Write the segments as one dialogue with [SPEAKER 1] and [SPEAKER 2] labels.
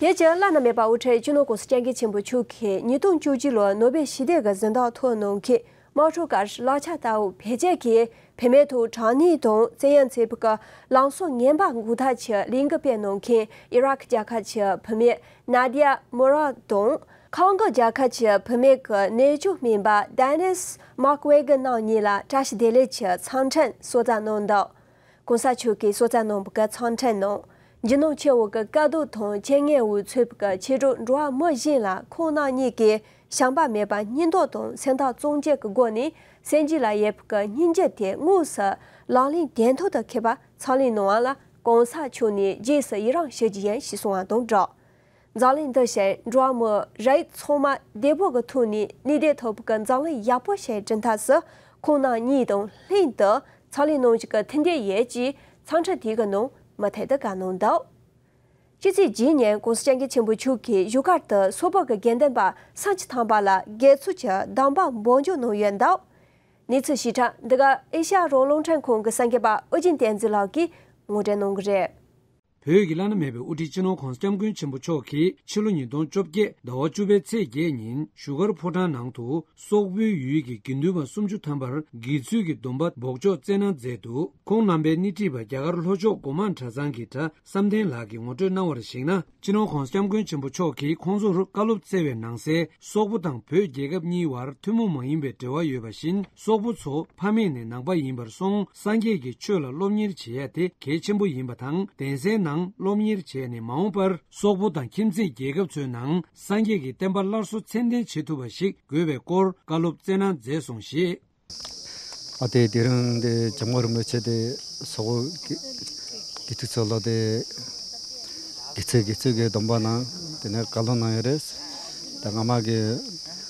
[SPEAKER 1] དེ་རྗེས་བླ་ན་མེད་པ་དབུ་ཁྲིད་སྤྱི་ནོར་ཀུང་སི་སྤྱང་ཀི་ཆེན་པོ་ཕྱུག་གིས་ཉིས་སྟོང་བཅུ་བཞི་ལོའི་ནོ་སྦེལ་ཞི་བདེ་གི་གཟེངས་རྟགས་ཐོག་ནང་གི་དམག་འཁྲུག་ཀར་ལག་ཆ་ལྟ་བུ་བེད་སྤྱད་ཀྱིས་བེད་མེད་དུ་དྲང་ནུས་དང་བཙན་ཡང་ཚེ་སྤུ་ཀ་ལང་སོ་ངན་པ་འགུག་ཐབས་ཀྱི་གླིང་གི་དཔེ་གནང་མཁན་ཨི་རག་རྒྱལ་ཁབ་ཀྱི་བུད་མེད Nadia Murad དང། ཁང་གི་རྒྱལ་ཁབ་ཀྱི་བུད་མེད་ཀྱི་གནས་ཆུང་སྨན་པ Dennis Mukwege རྣམ་གཉིས་ལ་བཀྲ་ཤིས་བདེ་ལེགས་ཀྱི་འཚམས་འཕྲིན་གསོལ་བསྩལ་གནང་འདུག་གོང་ས་མཆོག་གིས་སོ་ཙཱ་ནང་བཀའ་ཚང་ཕྲན་ནང་ཇི་ནང་ཆེ་བོ་གི་དཀའ་སྡུག་དང་ཆེ་ངན་འུ་ཚོབ་ཀྱི་ཕྱི་དྲོ་འགྲོ་བ་མི་གཞན་ལ་ཁོང་རྣམ་གཉིས་ཀྱིས་བྱམས་པ་མེད་པ་སྙིང་སྟོབས་དང་སེམས་ཐག་གཙང་བཅད་ཀྱི་སྒོ་ནས་སེམས་རྒྱུད་ལ་ཡོད་པའི་སྙིང་རྗེ་དེ་དངོས་སུ་ལག་ལེན་དོན་ཐོག་ཏུ་འཁེལ་བ་ཚང་ལས་གནང་བ་ལ་གོང་ས་མཆོག་ནས་རྗེས་སུ་ཡི་རངས་ཞུ་རྒྱུ་ཡིན་ཞེས་གསུང་བ་དང་སྦྲགས། འཛག་གླིང་འདི་ཞེས་འགྲོ་བ་མི་རེ་ཚོང་མ་བདེ་པོ་གི་ཐུགས་ནས་ནུས་བདེ་ཐོབ་ཀྱི་འཛག་གླིང་ཡག་པོ་ཞེས་བྲི་མཐར་སུ་ཁོང་ནང་གཉིས་དང་ལྷན་དུ་ཚགས་གླིང་ནང་ཞིག་གི་ཐིན་དེ་ཡས་ཀྱིས་ཚང་ཁྲི་དེ་གི་ནང་མི་ཐེ་དི་ག་གནང་འདུག་ཕྱི་ཚེས་བརྒྱད་ཉིན་ཀོང་སི་སྤྱང་ཀི་ཆེན་པོ་ཕྱུག་
[SPEAKER 2] གི་བཞུགས་སྒར་དུ་སོག་པོ་གི་དགེ་ལྡན་པ་སངས་ཅི་ཐང་པ་ལ་རྒྱལ་ཚུགས་ཀྱི་གདམས་པ་འབོག་འཇུག་གནང་ཡོད་འདུག་གནས་ཚུལ་ཞིབ་ཕྲ་འདི་ག་ཨེ་ཤ་ཡ་རོང་རླུང་འཕྲིན་ཁང་གི་གསར་འགོད་པ་ཨོ་རྒྱན་བསྟན་འཛིན་ལགས་ཀྱིས་ངོ་སྤྲད་གནང་གི་རེད། བོད་ཀྱི་བླ་ན་མེད་པའི་དབུ་ཁྲིད་སྤྱི་ནོར་ཁོང་སྐྱབས་མགོན་ཆེན་པོ་མཆོག་གིས་ཕྱི་ལོ་ཉིས་སྟོང་བཅོ་བརྒྱད་ཟླ་བ་བཅུ་པའི་ཚེས་བརྒྱད་ཉིན་བཞུགས་སྒར་ཕོ་བྲང་ནང་དུ་སོག་པོའི་ཡུལ་གྱི་དགེ་འདུན་པ་སུམ་ཅུ་ཐམ་པར་དགེ་ཚུལ་གྱི་སྡོམ་པ་འབོག་ཆོག་སྩལ་གནང་མཛད་འདུག་ཁོང་རྣམ་པའི་སྣེ་ཁྲིད་པ་རྒྱ་གར་ལྷོ་ཕྱོགས་སྒོ་མང་གྲྭ་ཚང་གི་གྲྭ་བསམ་གཏན་ལགས་ཀྱིས་ངོ་སྤྲོད་གནང་བར་གཞིགས་ན། སྤྱི་ནོར་ཁོང་སྐྱབས་མགོན་ཆེན་པོ་མཆོག་གིས་ཁོང་ཚོར་བཀའ་སློབ་སྩལ་བའི་ནང་གསལ་སོག་པོ་དང་བོད་རྒྱལ་ཁབ་གཉིས་དབར་ཐུན་མོང་མ་ཡིན་པའི་འབྲེལ་བ་ཡོད་པ་བཞིན་སོག་པོ་ཚོ་ཕ་མེས་ནས་ནང་པ་ཡིན་པར་སོང་སངས་རྒྱས་ཀྱི་ཆོས་ལ་སློབ་གཉེར་བྱེད་ཡ་དེ་གལ་ཆེན་པོ་ཡིན་པ་དང་གདན་སའི་ནང་སློབ་གཉེར་བྱས་ནས་མ་འོངས་པར་སོག་པོ་དང་ཁྱིམ་མཚེས་རྒྱལ་ཁབ་ཚོའི་ནང་སངས་རྒྱས་ཀྱི་བསྟན་པ་སླར་གསོ་ཚད་ལྡན་བྱེད་ཐུབ་པ་ཞིག་དགོས་པའི་སྐོར་བཀའ་སློབ་སྩལ་གནང་མཛད་སོང་ཞེས། ཨ་
[SPEAKER 3] དེས་དེ་རིང་འདི་ཇོ་མོ་རིན་པོ་ཆེ་དེ་སོག་པོ་དགེ་ཕྲུག་ཚོ་ལ་དེ་དགེ་ཚུལ་དགེ་ཚུལ་གྱི་སྡོམ་པ་ནང་དེ་ནས་བཀའ་སློབ་གནང་ཡོད་རེད། ད་སྔ་མ་གི།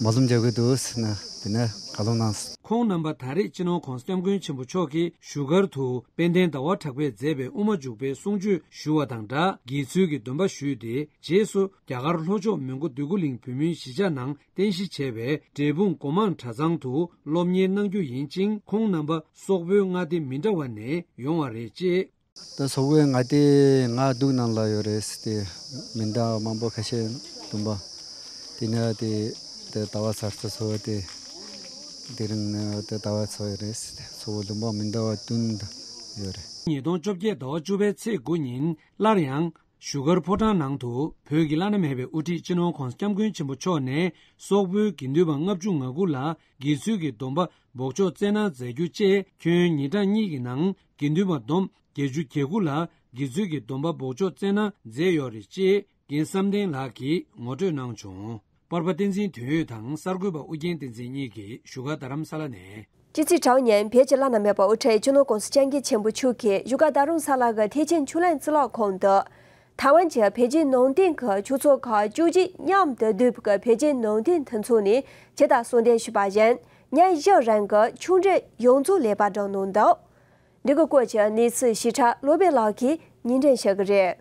[SPEAKER 3] མ་ཟུམ་རྒྱག་གི་འདུག་ཟེར་ན་དེ་ནས་ག་ལོ་གནང། ཁོང་རྣམ་པ་ད་རེས་
[SPEAKER 2] སྤྱི་ནོར་ཁོང་སྟེམས་མགོན་ཆེན་པོ་མཆོག་གི་བཞུགས་སྒར་དུ་དཔལ་ལྡན་ཟླ་བ་གྲགས་པས་མཛད་པའི་དབུ་མ་འཇུག་པའི་གསུང་ཆོས་ཞུ་བ་དང་སྦྲགས་དགྱེས་ཚུལ་གྱི་འདོན་པ་ཞུས་ཏེ་རྗེས་སུ་རྒྱ་གར་ལྷོ་ཕྱོགས་མོན་གྷོ་འདོད་རྒུ་གླིང་བུ་མོའི་གཞིས་ཆགས་ནང་རྟེན་གཞི་བྱས་པའི་འབྲས་སྤུངས་སྒོ་མང་གྲྭ་ཚང་དུ་སློབ་གཉེར་གནང་རྒྱུ་ཡིན་ཅིང་ཁོང་རྣམ་པ་སོག་པོའི་མངའ་སྡེ་མི་འདྲ་བ་ནས་ཡོང་བ་རེད་ཅེས་ད་སོག་པོའི་
[SPEAKER 3] ང་དེ་ང་སྡུག་ནང་ལ་ཡོད་རེད་ཟེར་ཏེ་མི་འདང་བ་མང་པོ་ཁ་ཤས་འདུམ་པ་དེ་ནས་དེ་དེ་ད་བ་ཚར་ཚུར་ཚོ་བ་དེ་དེ་རིང་ནས་དེ་ད་བ་ཚོ་ཡོད་རེད་ཟེར་ཏེ་ཚོ་བོ་འདུམ་པ་མི་འདང་བ་བསྟུན་ཡོད་རེད། ཉིས་སྟོང་བཅོ་བརྒྱད་
[SPEAKER 2] ཟླ་བ་བཅུ་པའི་ཚེས་དགུ་ཉིན་སླར་ཡང་བཞུགས་སྒར་ཕོ་བྲང་ནང་དུ་བོད་ཀྱི་བླ་ན་མེད་པའི་དབུ་ཁྲིད་སྤྱི་ནོར་ཁོང་སྐྱབས་མགོན་ཆེན་པོ་མཆོག་ནས་སོག་པོའི་དགེ་འདུན་པ་ལྔ་བཅུ་ང་དགུ་ལ་དགེ་ཚུལ་གྱི་སྡོམ་པ་འབོག་ཆོག་བསྩལ་གནང་མཛད་རྒྱུ་བཅས་ཁྱོན་ཉིན་གྲངས་གཉིས་ཀྱི་ནང་དགེ་འདུན་པ་བསྡོམས་བརྒྱད་ཅུ་གྱ་དགུ་ལ་དགེ་ཚུལ་གྱི་སྡོམ་པ་འབོག་ཆོག་སྩལ་ན་མཛད་ཡོད་རེད་ཅེས་རྒན་བསམ་གཏན་ལགས་ཀྱིས་ངོ་སྤྲོད་གནང་བྱུང། པར་པ་བསྟན་འཛིན་དོན་ཡོད་དང་གསར་འགོད་པ་ཨུ་རྒྱན་བསྟན་འཛིན་གཉིས་ཀྱིས་བཞུགས་སྒར་རྡ་རམ་ས་ལ་ནས། ཅི་ཚེ་གྲགས་གཉན་བོད་ཀྱི་བླ་ན་མེད་པ་དབུ་ཁྲིད་གཅུན་ནོར་ཀོང་སི་སྤྱན་རྒྱས་ཆེན་པོ་མཆོག་གིས་བཞུགས་སྒར་རྡ་རུང་ས་ལ་གི་ཐེག་
[SPEAKER 1] ཆེན་ཆུ་ལེན་རྩིས་ལག་ཁང་དུ། ཐའེ་ཝན་གྱི་བོད་བརྒྱུད་ནང་བསྟན་གྱི་ཆོས་ཚོགས་ཁག་བཅུ་གཅིག་མཉམ་དུ་བསྡུས་པའི་བོད་བརྒྱུད་ནང་བསྟན་མཐུན་ཚོགས་ནས་ཕྱི་ཟླ་གསུམ་འདས་ཞུས་པ་བཞིན། སྙན་གཞག་རང་གི་ཆུང་འདྲིས་ཡོངས་རྫོགས་ལེགས་པར་བསྒྲགས་གནང་འདུག་འདི་གི་སྐོར་གྱི་གནས་ཚུལ་ཞི་ཁྲ་བློ་དཔལ་ལགས་ཀྱིས་ཉིན་དྲན་བྱེད་ཀྱི་རེད།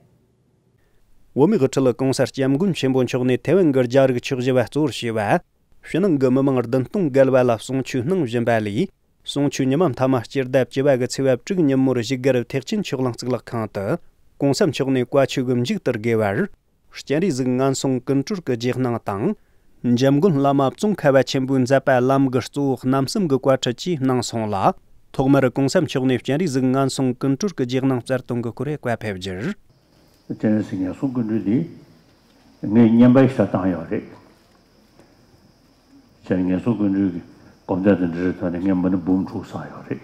[SPEAKER 1] བོད་མིའི་དབུ་ཁྲིད ྋགོང་ས ྋསྐྱབས་མགོན་ཆེན་པོ་མཆོག་ནས་ཐའེ་ཝན་གྱི་རྒྱ་རིགས་ཕྱོགས་བཞི་བ་གཙོར་བྱས་པ། ཕྱི་ནང་གི་མི་མང་བདུན་སྟོང་བརྒལ་
[SPEAKER 4] བ་ལ་གསུང་ཆོས་གནང་བཞིན་པ་ལས། གསུང་ཆོས་ཉི་མ་མཐའ་མ་སྤྱིར་ལྡབ་བཅུ་བ་གི་ཚེས་བབ་དྲུག་ཉིན་མོར་གཞིས་སྒར་ཐེག་ཆེན་ཕྱོགས་གླང་གཙུག་ལག་ཁང་དུ ྋགོང་ས་མཆོག་ནས་བཀའ་ཆོས་གི་མཇུག་བསྟར་དགོས་པར། སྤྱན་རས་གཟིགས་ངན་སོང་ཀུན་གྲོལ་གྱི་རྗེས་གནང་དང། འཇམ་མགོན་བླ་མ་བཙོང་ཁ་བ་ཆེན་པོའི་མཛད་པ་ལམ་གྱི་གཙོ་བོ་རྣམ་གསུམ་གྱི་བཀའ་ཁྲིད་བཅས་གནང་སོང་ལ། ཐོག་མར་གུང་ས་མཆོག་ནས་སྤྱན་རས་གཟིགས་ངན་སོང་ཀུན་གྲོལ་གྱི་རྗེས་གནང་བསྩལ་གཏོང་གི་གུ་རེ་བཀའ་ཕེབས་རྒྱུར། སྤྱན་རས་གཟིགས་ངན་སོང་ཀུན་གྲོལ་འདི། ངས་བསྙེན་པར་ཞལ་བཏང་ཡོད་རེད། སྤྱན་རས་ངན་སོང་ཀུན་གྲོལ་གྱི་སྒོམ་བཟླས་དང་འབྲེལ་ཐོག་ནས་ངས་མི་ནི་འབུམ་དྲུག་བསགས་
[SPEAKER 5] ཡོད་རེད།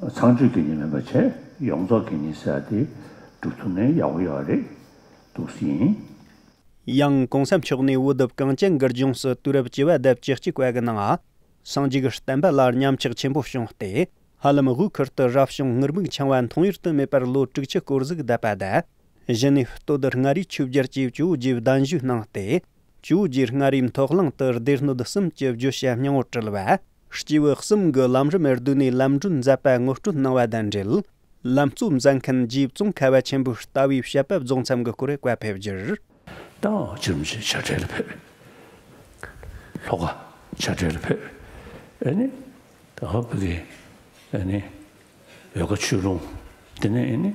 [SPEAKER 4] ཚངས་སྤྱོད་ཀྱི་ནི་མེད་པར་བྱས། ཡོངས་རྫོགས་ཀྱི་ནི་བསྲེ་བ་སྟེ། འབྲུ་ཚུགས་ནས་ཡག་པོ་ཡོ་བ་རེད་འདུག་སྲིད་ཡིན། ཡང་གོང་ས་མཆོག་ནས་འུ་དུབ་གངས་ཅན་འགར་ལྗོངས་སུ་དུས་རབས་བཅུ་བ་དབྱར་བཅུ་གཅིག་བ་གི་ནང་ཨ། སངས་རྒྱས་ཀྱི་བསྟན་པ་ལ་ཉམས་ཆག་ཆེན་པོ་བྱུང་སྟེ། ཧ་ལམ་དབུས་ཁུལ་དུ་རབ་བྱུང་ངུར་སྨུག་འཆང་བ་མཐོང་ཡུལ་དུ་མེད་པར་ལོ་དྲུག་ཅུ་སྐོར་གཟུགས་བསྡད་པ་བསྡད། གཞི་ནས་སྟོད་དུ་མངའ་རིས་ཆོས་རྒྱལ་གྱིས་ཇོ་བོ་རྗེའི་གདན་ཞུས་གནང་སྟེ། ཇོ་བོ་རྗེས་མངའ་རིས་མཐོ་གླིང་དུ་སྡེ་སྣོད་གསུམ་གྱི་བརྗོད་བྱ་སྙིང་བོ་དྲིལ་བ། སྤྱི་བོའི་གསུམ་གྱི་ལམ་རིམ་རེར་བསྡུས་ནས་ལམ་སྒྲོན་མཛད་པ་ངོ་སྤྲོད་གནང་བ་དང་འབྲེལ། ལམ་གཙོ་མཛད་མཁན་རྗེ་ཙོང་ཁ་བ་ཆེན་པོའི་ལྟ་བའི་བཤད་པ་རྫོགས་མཚམས་ཀྱི་སྐོར་བཀའ་ཕེབས་རྒྱུར། ཏང་ཨུ་ཕྱི་
[SPEAKER 5] རིམ་གྱི་བྱ་བྲལ་ཕེབས། ལྷོ་ཁ་བྱ་བྲལ་ཕེབས། ད་ཧོ་པེ་ཀི། འོལ་ཁ་ཆུས་ཀླུང། དེ་ནས།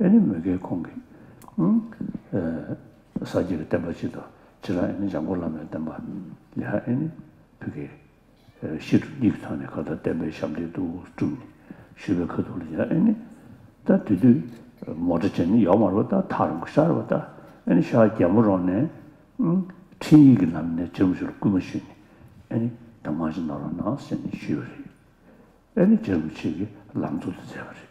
[SPEAKER 5] ཨེ་ནི་མི་དགེའི་ཁོང་གི། ས་བརྒྱད་ཀྱི་བསྟན་པ་སྤྱི་དང་བྱེ་བྲག་ཨེ་ནི་འཇམ་མགོན་བླ་མའི་བསྟན་པ། ལེགས་ཨེ་ནི་བུ་གའི། ཤེལ་གྲུ་གཉིས་ཀྱི་ཐང་ནས་ཁ་བརྡ་བསྟན་པའི་ཞབས་འདེགས་དུ་བསྐྲུན་ནས་བཞུད་པའི་ཁ་ཐུག་ལ་ཡང་ཨེ་ནི། ལྟ། དེ་དུས་མོ་ཏྲ་ཅན་ནི་ཡོག་མར་བ་ལྟ་ཐག་རིང་པོ་ཤར་བ་ལྟ་ཨེ་ནི་ཤར་རྒྱལ་མོ་རོང་ནས། འཕྲིན་ཡིག་གི་ལམ་ནས་ཇེར་མོ་ཆུ་ལ་སྐུལ་མ་ཞུས་ནས་ཨེ་ནི་དྭངས་མ་ཅན་ནོར་བ་ནང་ཟེར་ནས་བཞུད་པ་རེད། ཨེ་ནི་ཇེར་མོ་ཆུ་གི་ལམ་ཚུགས་དུ་མཛད་པ་རེད།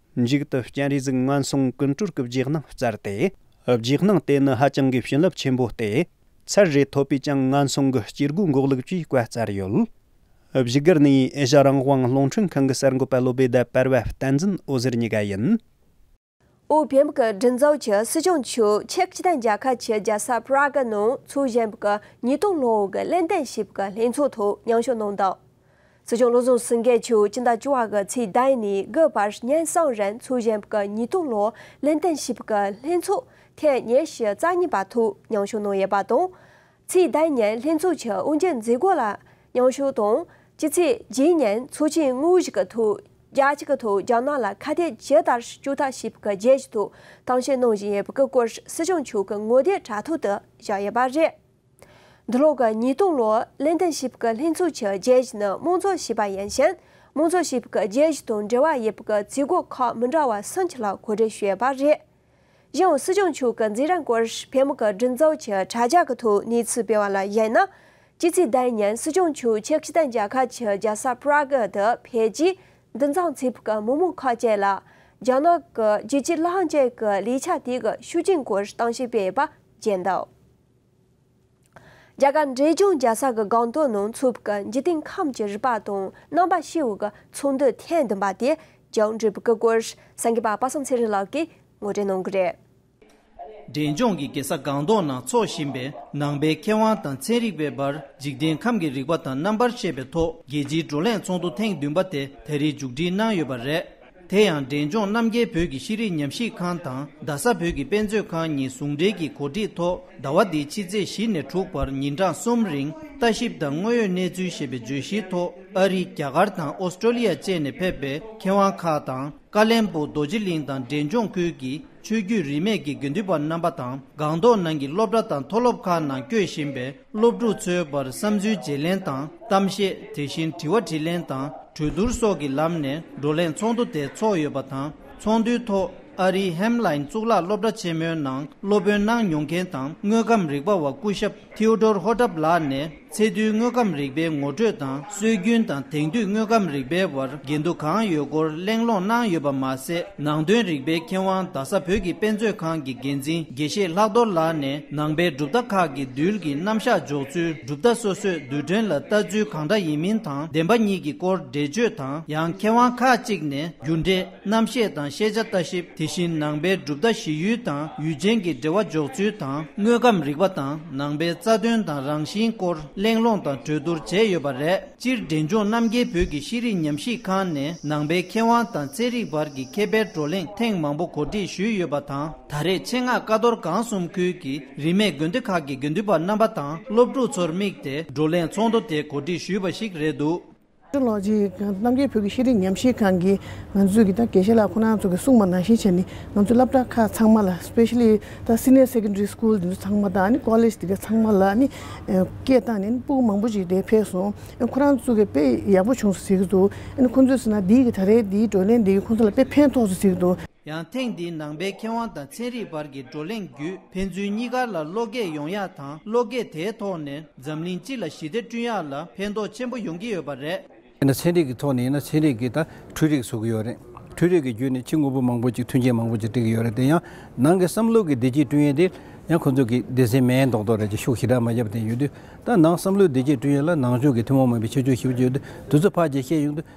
[SPEAKER 4] མཇུག་ཏུ་སྤྱན་རས་གཟིགས་སྔོན་སོང་ཀུན་གྲོལ་གྱི་རྗེས་གནང་སྩལ་ཏེ། རྗེས་གནང་དེ་ནི་ཧ་ཅང་གི་བྱིན་རླབས་ཆེན་པོ་སྟེ། ཚར་རེ་ཐོབ་པས་ཀྱང་སྔོན་སོང་གི་སྐྱེ་དགུ་འགོག་ལུགས་ཀྱི་བཀའ་སྩལ་ཡོད། བཞུགས་སྒར་ནི་ཨེ་ཤ་རང་དབང་རླུང་འཕྲིན་ཁང་གི་གསར་འགོད་པ་བློ་སྦེ་ཟླ་དཔལ་བ་བསྟན་འཛིན་ཨོ་ཟེར་གཉིས་ཀ་ཡིན། ཨོ་
[SPEAKER 1] བྷེམ་ཀི་མགྲིན་ཚབ་ཀྱི་སྲིད་སྐྱོང་ཆུ་ཆེག་ཅི་ཐན་རྒྱལ་ཁབ་ཀྱི་རྒྱལ་ས Prague ནང་ཚུལ་བཞིན་པའི་ཉིས་སྟོང་ལོའི་གླེང་སྟེགས་ཞིབ་ཀྱི་ལྷན་ཚོགས་ཐོག་མྱང་ཞོ་གནང་དང། སྲིད་སྐྱོང་བློ་བཟང་སེང་གེས་ཆུ་སྤྱི་ཟླ་བཅུ་བ་གི་ཚེས་ཟླ་ནས་དགུ་བར་ཉིན་བཟང་རིང་ཚོུད་གཞན་པའི་གི་ཉིས་སྟོང་ལོ་ལེན་བསྟན་ཞིབ་ཀྱི་ལྷན་ཚོགས་ཐེངས་ཉེར་བཞི་རྩ་གཉིས་པ་ཐོག་མྱང་ཞུ་གནང་ཡོད་པ་དང། ཚེས་ཟླ་ཉིན་ལྷན་ཚོགས་ཀྱི་དབུ་འབྱེད་མཛད་སྒོ་ལ་མྱང་ཞུ་དང་ཕྱི་ཚེས་བརྒྱད་ཉིན་ཚོགས་ཆེན་དངོས་གཞི་ཀྱི་ཐོག་རྒྱལ་སྤྱི་ཀྱི་ཐོག་རྒྱ་ནག་ལ་ཁ་གཏད་ཇི་ལྟར་གཅོག་ཐབས་ཞིབ་ཀྱི་རྗེས་ཐོག་གཏམ་བཤད་གནང་བཞིན་ཡོད་པའི་སྐོར་སྲིད་སྐྱོང་མཆོག་གི་ངོ་དེབ་དྲ་ཐོག་ཏུ་བཞག་ཡོད་པ་རེད། འདི་ལོ་གི་ཉིས་སྟོང་ལོ་ལེན་ཏན་ཞིབ་ཀྱི་ལྷན་ཚོགས་ཀྱི་རྒྱལ་གཞི་ནི་དམངས་གཙོ་ཞེས་པ་ཡིན་ཞིང། དམངས་གཙོ་ཞིབ་ཀྱི་རྒྱལ་གཞི་དང་འབྲེལ་བ་ཡོད་པའི་བརྩི་སྒོ་ཁག་མི་འདྲ་བ་སུམ་ཅུ་ལ་གོ་སྒྲིག་ཞུས་པ་རེད། གཞན་ཡང་སྲིད་སྐྱོང་མཆོག་གི་འཛིན་རིམ་སྐོར་ཕལ་མོ་ཀ་སྒྲིག་འཛུགས་ཀྱི་དྲ་རྒྱ་གི་ཐོག་གནས་ཚུལ་སྤེལ་བ་ལ་གཞིགས་ན། སྤྱི་ཚེས་ཟླའི་ཉིན་སྲིད་སྐྱོང་མཆོག་ཆེ་བསྟན་རྒྱལ་ཁབ་ཀྱི་རྒྱལ་ས Prague དུ་ཕེབས་རྗེས་འདུ་འཛོམས་ཚེ་ཕུག་གི་མི་མང་ཁག་བཅས་ལ་རྒྱ་ནག་གི་རྒྱལ་སྤྱིའི་ལྷ་ཁང་བཅས་ཀྱི་ལས་འཆར་དེ་གའི་ཤུགས་རྐྱེན་སྐོར་གཏམ་བཤད་སྤེལ་བ་བརྒྱད་འདུག།
[SPEAKER 6] རྒྱ་གར་འབྲས་ལྗོངས་རྒྱལ་ས་གི་སྒང་ཏོག་ནང་འཚུབ་ཀྱི་འཇིག་རྟེན་ཁམས་ཀྱི་རིག་པ་དང་རྣམ་པ་ཤེའུ་གི་ཚོང་འདུས་ཐེངས་བདུན་པ་དེ་བྱང་འབྲི་བུ་གི་སྐོར་སངས་རྒྱས་པ་པ་སངས་ཚེ་རིང་ལགས་ཀྱིས་ངོ་སྤྲོད་གནང་གི་རེད། འབྲས་ལྗོངས་ཀྱི་རྒྱལ་ས་སྒང་ཏོག་ནང་འཚོགས་བཞིན་པའི་ནང་པའི་མཁས་དབང་དང་ཚན་རིག་པའི་བར་འཇིག་རྟེན་ཁམས་ཀྱི་རིག་པ་དང་རྣམ་པར་ཤེས་པའི་ཐོག་རྒྱལ་སྤྱིའི་བགྲོ་གླེང་ཚོགས་འདུ་ཐེངས་བདུན་པ་དེ་ད་རེས་མཇུག་སྒྲིལ་གནང་ཡོད་པ་རེད། དེ་ཡང་འབྲས་ལྗོངས་རྣམ་རྒྱལ་བོད་ཀྱི་ཤེས་རིག་ཉམས་ཞིབ་ཁང་དང་རྡ་ས་བོད་ཀྱི་དཔེ་མཛོད་ཁང་གཉིས་ཟུང་འབྲེལ་གྱི་གོ་སྒྲིག་ཐོག་ཟླ་བ་འདིའི་ཕྱི་ཚེས་བཞི་ནས་དྲུག་བར་ཉིན་གྲངས་གསུམ་རིང་ལྟ་ཞིབ་དང་དངོས་ཡོད་གནས་ཚུལ་ཞེས་པའི་བརྗོད་གཞིའི་ཐོག་ཨ་རི་རྒྱ་གར་དང་ཨོ་སི་ཀྲོ་ལི་ཡ་བཅས་ནས་ཕེབས་པའི་མཁས་དབང་ཁག་དང་ཀ་ལན་པུ་རྡོ་རྗེ་གླིང་དང་འབྲས་ལྗོངས་ཁུལ་གྱི་ཆོས་བརྒྱུད་རིས་མེད་ཀྱི་དགེ་འདུན་པ་རྣམ་པ་དང་སྒང་ཏོག་ནང་གི་སློབ་གྲྭ་དང་མཐོ་སློབ་ཁག་ནང་སྐྱོད་བཞིན་པའི་སློབ་ཕྲུག་ཚོའི་བར་བསམ་ཚུལ་བརྗེ་ལེན་དང་གཏམ་བཤད་དེ་བཞིན་དྲི་བ་དྲིས་ལན་དང་གྲོས་བསྡུར་སོགས་ཀྱི་ལམ་ནས་བགྲོ་གླེང་ཚོགས་འདུ་དེ་འཚོགས་ཡོད་པ་དང་ཚོགས་འདུའི་ཐོག་ཨ་རིའི་ཧེམ་ལ་ཡིན་གཙུག་ལག་སློབ་གྲྭ་ཆེན་མོའི་ནང་སློབ་དཔོན་གནང་མྱོང་མཁན་དང་དངོས་ཁམས་རིག་པ་བ་སྐུ་ཞབས Theodore Hotup ལགས་ནས་ཚད་རྡུལ་དངོས་ཁམས་རིག་པའི་ངོ་སྤྲོད་དང། སྲོལ་རྒྱུན་དང་དེང་དུས་དངོས་ཁམས་རིག་པའི་བར་འགལ་འདུ་གང་ཡོད་སྐོར་གླེང་སློང་གནང་ཡོད་པ་མ་ཟད་ནང་དོན་རིག་པའི་མཁས་དབང་རྡ་ས་བོད་ཀྱི་དཔེ་མཛོད་ཁང་གི་འགན་འཛིན་དགེ་བཤེས་ལྷག་རྡོར་ལགས་ནས་ནང་པའི་གྲུབ་མཐའ་ཁག་གི་རྡུལ་གྱི་རྣམ་གཞག་འཇོག་ཚུལ་གྲུབ་མཐའ་སོ་སོས་རྡུལ་ཕྲན་ལ་ལྟ་ཚུལ་གང་འདྲ་ཡིན་མིན་དང་བདེན་པ་གཉིས་ཀྱི་སྐོར་འགྲེལ་བརྗོད་དང་ཡང་མཁས་དབང་ཁག་ཅིག་ནས་རྒྱུ་འབྲས། རྣམ་བཤད་དང་ཤེས་བྱ་ལྟ་ཞིབ་དེ་བཞིན་ནང་པའི་གྲུབ་མཐའ་བཞི་ཡུལ་དང་ཡུལ་ཅན་གྱི་འབྲེལ་བ་འཇོག་ཚུལ་དང་དངོས་ཁམས་རིག་པ་དང་ནང་པའི་རྩ་དོན་དང་རང་བཞིན་སྐོར་གླེང་སློང་དང་གྲོས་བསྡུར་བྱས་ཡོད་པ་རེད། སྤྱིར་འབྲས་ལྗོངས་རྣམ་རྒྱལ་བོད་ཀྱི་ཤེས་རིག་ཉམས་ཞིབ་ཁང་ནས་ནང་པའི་མཁས་དབང་དང་རྩེད་རིགས་བར་གྱི་མཁས་པའི་བགྲོ་གླེང་ཐེངས་མང་པོ་གོ་སྒྲིག་ཞུས་ཡོད་པ་དང་ད་རེས་ཆེད་མངགས་ཀ་རྡོར་སྒང་གསུམ་ཁུལ་གྱི་རིས་མེད་དགོན་སྡེ་ཁག་གི་དགེ་འདུན་པ་རྣམ་པ་དང་སློབ་ཕྲུག་ཚོར་དམིགས་ཏེ་བགྲོ་གླེང་ཚོགས་འདུ་དེ་གོ་སྒྲིག་ཞུས་པ་ཞིག་རེད་འདུག། ཀྲུའུ་ལགས་ཀྱིས་
[SPEAKER 7] རྣམ་རྒྱལ་བོད་ཀྱི་ཤེས་རིག་ཉམས་ཞིབ་ཁང་གིས་ང་ཚོས་ཀྱི་དགེ་བཤེས་ལགས་ཁོ་ན་ཚོ་གི་སྲུང་མ་ནང་བཞིན་བྱས་ནས་ང་ཚོའི་སླབ་གྲྭ་ཁག་ཚང་མ་ལ Specially དང Senior Secondary School དེ་ཚོ་ཚང་མ་དང College དེ་ག་ཚང་མ་ལ་ནི་སྐད་བཏང་ནས་སྤུ་མང་པོ་ཞིག་དེ་ཕེབས་སོང་ཨ་ཁོ་རང་ཚོ་གི་དཔེ་ཡག་པོ་བྱུང་སོང་ཟེར་གྱི་འདུག་ཨ་ནི་ཁོ་ཚོས་ཟེར་ན་འདིའི་གི་ད་རེའི་འདིའི་བགྲོ་གླེང་འདི་གི་ཁོ་ཚོ་ལ་དཔེ་ཕན་ཐོགས་སོང་ཟེར་གྱི་འདུག། ཡང་ཐེངས་འདིའི་
[SPEAKER 6] ནང་པའི་མཁས་དབང་དང་ཚན་རིག་བར་གྱི་བགྲོ་གླེང་བརྒྱུད་ཕན་ཚུན་གཉིས་ཀར་ལ་བློ་སྐྱེད་ཡོང་ཡག་དང་བློ་སྐྱེད་དེའི་ཐོག་ནས་འཛམ་གླིང་སྤྱི་ལ་ཞི་བདེ་བསྐྲུན་ཡག་ལ་ཕན་ཐོགས་ཆེན་པོ་ཡོང་གི་ཡོད་པ་རེད། དེ་ནི་ཚན་རིག་གི་ཐོག་
[SPEAKER 8] ནས་ཡིན་ན་ཚན་རིག་གིས་ད་འཕྲུལ་རིག་བཟོ་གི་ཡོད་རེད། འཕྲུལ་རིག་གི་བརྒྱུད་ནས་ཕྱི་དངོས་པོ་མང་པོ་ཅིག་མཐུན་རྐྱེན་མང་པོ་ཅིག་སྒྲིག་གི་ཡོད་རེད་དེ་ཡང་ནང་གི་བསམ་བློ་གི་བདེ་སྐྱིད་བསྐྲུན་ཡས་དེ་ཡང་ཁོ་ཚོ་གི་སྡེ་སེ་མའི་མདོག་མདོག་རེད་ཅེས་ཤུགས་ཞི་དྲག་མ་བརྒྱབ་བསྟན་ཡོད་དུས་ད་ནང་བསམ་བློའི་བདེ་སྐྱིད་བསྐྲུན་ཡས་ལ་ནང་ཆོས་ཀྱི་ཐུན་མོང་མིན་པའི་ཆེད་སྤྱོད་ཞིབ་ཀྱི་ཡོད་དུས་དུས་ཚོད་ཕག་རྗེས་ཤེས་ཡོང་དུས་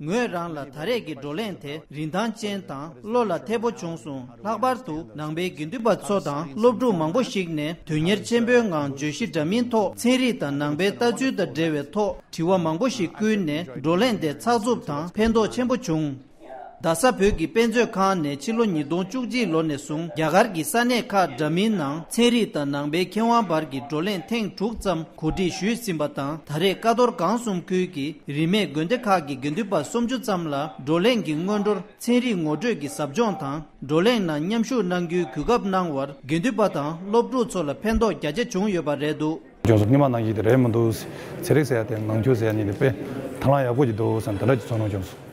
[SPEAKER 9] ངོས་རང་ལ་ད་
[SPEAKER 6] རེས་ཀྱི་བགྲོ་གླེང་དེ་རིན་ཐང་ཅན་དང་བློ་ལ་འཐད་པོ་བྱུང་སོང་ལྷག་པར་དུ་ནང་པའི་དགེ་འདུན་པ་ཚོ་དང་སློབ་ཕྲུག་མང་པོ་ཞིག་ནས་དོན་གཉེར་ཆེན་པོའི་ངང་བརྗོད་གཞི་འདྲ་མིན་ཐོག་ཚན་རིག་དང་ནང་པའི་ལྟ་ཚུལ་དང་འབྲེལ་བའི་ཐོག་དྲི་བ་མང་པོ་ཞིག་བསྐུལ་ནས་བགྲོ་གླེང་དེ་ཚགས་ཚུབ་དང་ཕན་ཐོགས་ཆེན་པོ་བྱུང། རྡ་ས་བོད་ཀྱི་དཔེ་མཛོད་ཁང་ནས་ཕྱི་ལོ་ཉིས་སྟོང་བཅུ་གཅིག་ལོ་ནས་བཟུང་རྒྱ་གར་གྱི་ས་གནས་ཁག་འདྲ་མིན་ནང་ཚན་རིག་དང་ནང་པའི་མཁས་དབང་བར་གྱི་བགྲོ་གླེང་ཐེངས་དྲུག་ཙམ་གོ་སྒྲིག་ཞུས་ཟིན་པ་དང་ད་རེས་ཀ་ཐོར་གངས་གསུམ་ཁུལ་གྱི་རིས་མེད་དགོན་སྡེ་ཁག་གི་དགེ་འདུན་པ་སུམ་ཅུ་ཙམ་ལ་བགྲོ་གླེང་གི་སྔོན་འགྲོར་ཚན་རིག་ངོ་སྤྲོད་ཀྱི་ཟབ་སྦྱོང་དང་བགྲོ་གླེང་ནང་མཉམ་ཞུགས་གནང་རྒྱུའི་གུས་སྐབས་གནང་བར་དགེ་འདུན་པ་དང་སློབ་ཕྲུག་ཚོ་ལ་ཕན་ཐོགས་རྒྱ་ཆེ་བྱུང་ཡོད་པ་རེད་འདུག། ལྗོངས་སུ་སྙེ་མ་ནང་བཞིན་དེ་
[SPEAKER 10] རེད་མི་འདུག། ཟས་རིགས་ཟས་ཡག་དེ་ནང་ཆུ་ཟས་གཉིས་དེ་དཔེ། དང་བླངས་ཡག་པོ་ཞིག་འདུག་བསམ་དེ་འདྲ་ཞིག་ཚོར་སྣང་བྱུང།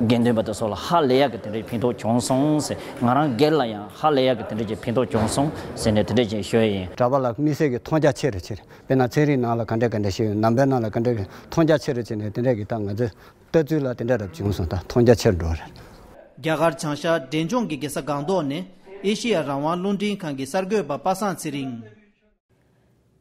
[SPEAKER 11] དགེ་འདུན་པ་དེ་སོགས་ལ་ཧ་ལས་ཡག་གི་དེ་འདྲའི་ཕན་ཐོགས་བྱུང་སོང་ཟེར། ང་རང་སྒེར་ལ་ཡང་ཧ་ལས་ཡག་གི་དེ་འདྲའི་ཀྱི་ཕན་ཐོགས་བྱུང་སོང་ཟེར་ནས་དེ་འདྲའི་ཀྱི་ཞུ་ཡ་ཡིན། གྲྭ་པ་ལ་དམིགས་བསལ་གྱི་མཐོང་
[SPEAKER 3] རྒྱ་ཆེ་རུ་བྱེད། དཔེར་ན་ཚན་རིག་ནང་ལ་ག་འདྲས་ག་འདྲས་བཤད་ཡོད་ནམ་པའི་ནང་ལ་ག་འདྲས་མཐོང་རྒྱ་ཆེ་རུ་བྱེད་ནས་དེ་འདྲས་ཀྱི་ད་ང་ཚོའི་ལྟ་ཚུལ་ལ་དེ་འདྲས་རབ་བྱུང་སོང་ད་མཐོང་རྒྱ་ཆེར་འགྲོ་རེད། རྒྱ་གར་
[SPEAKER 6] བྱང་ཤར་འབྲས་ལྗོངས་ཀྱི་དགེ་ས་སྒང་ཏོག་ནས་ཨེ་ཤེ་ཡ་རང་དབང་རླུང་འཕྲིན་ཁང་གི་གསར་འགོད་པ་པ་སངས་ཚེ་རིང།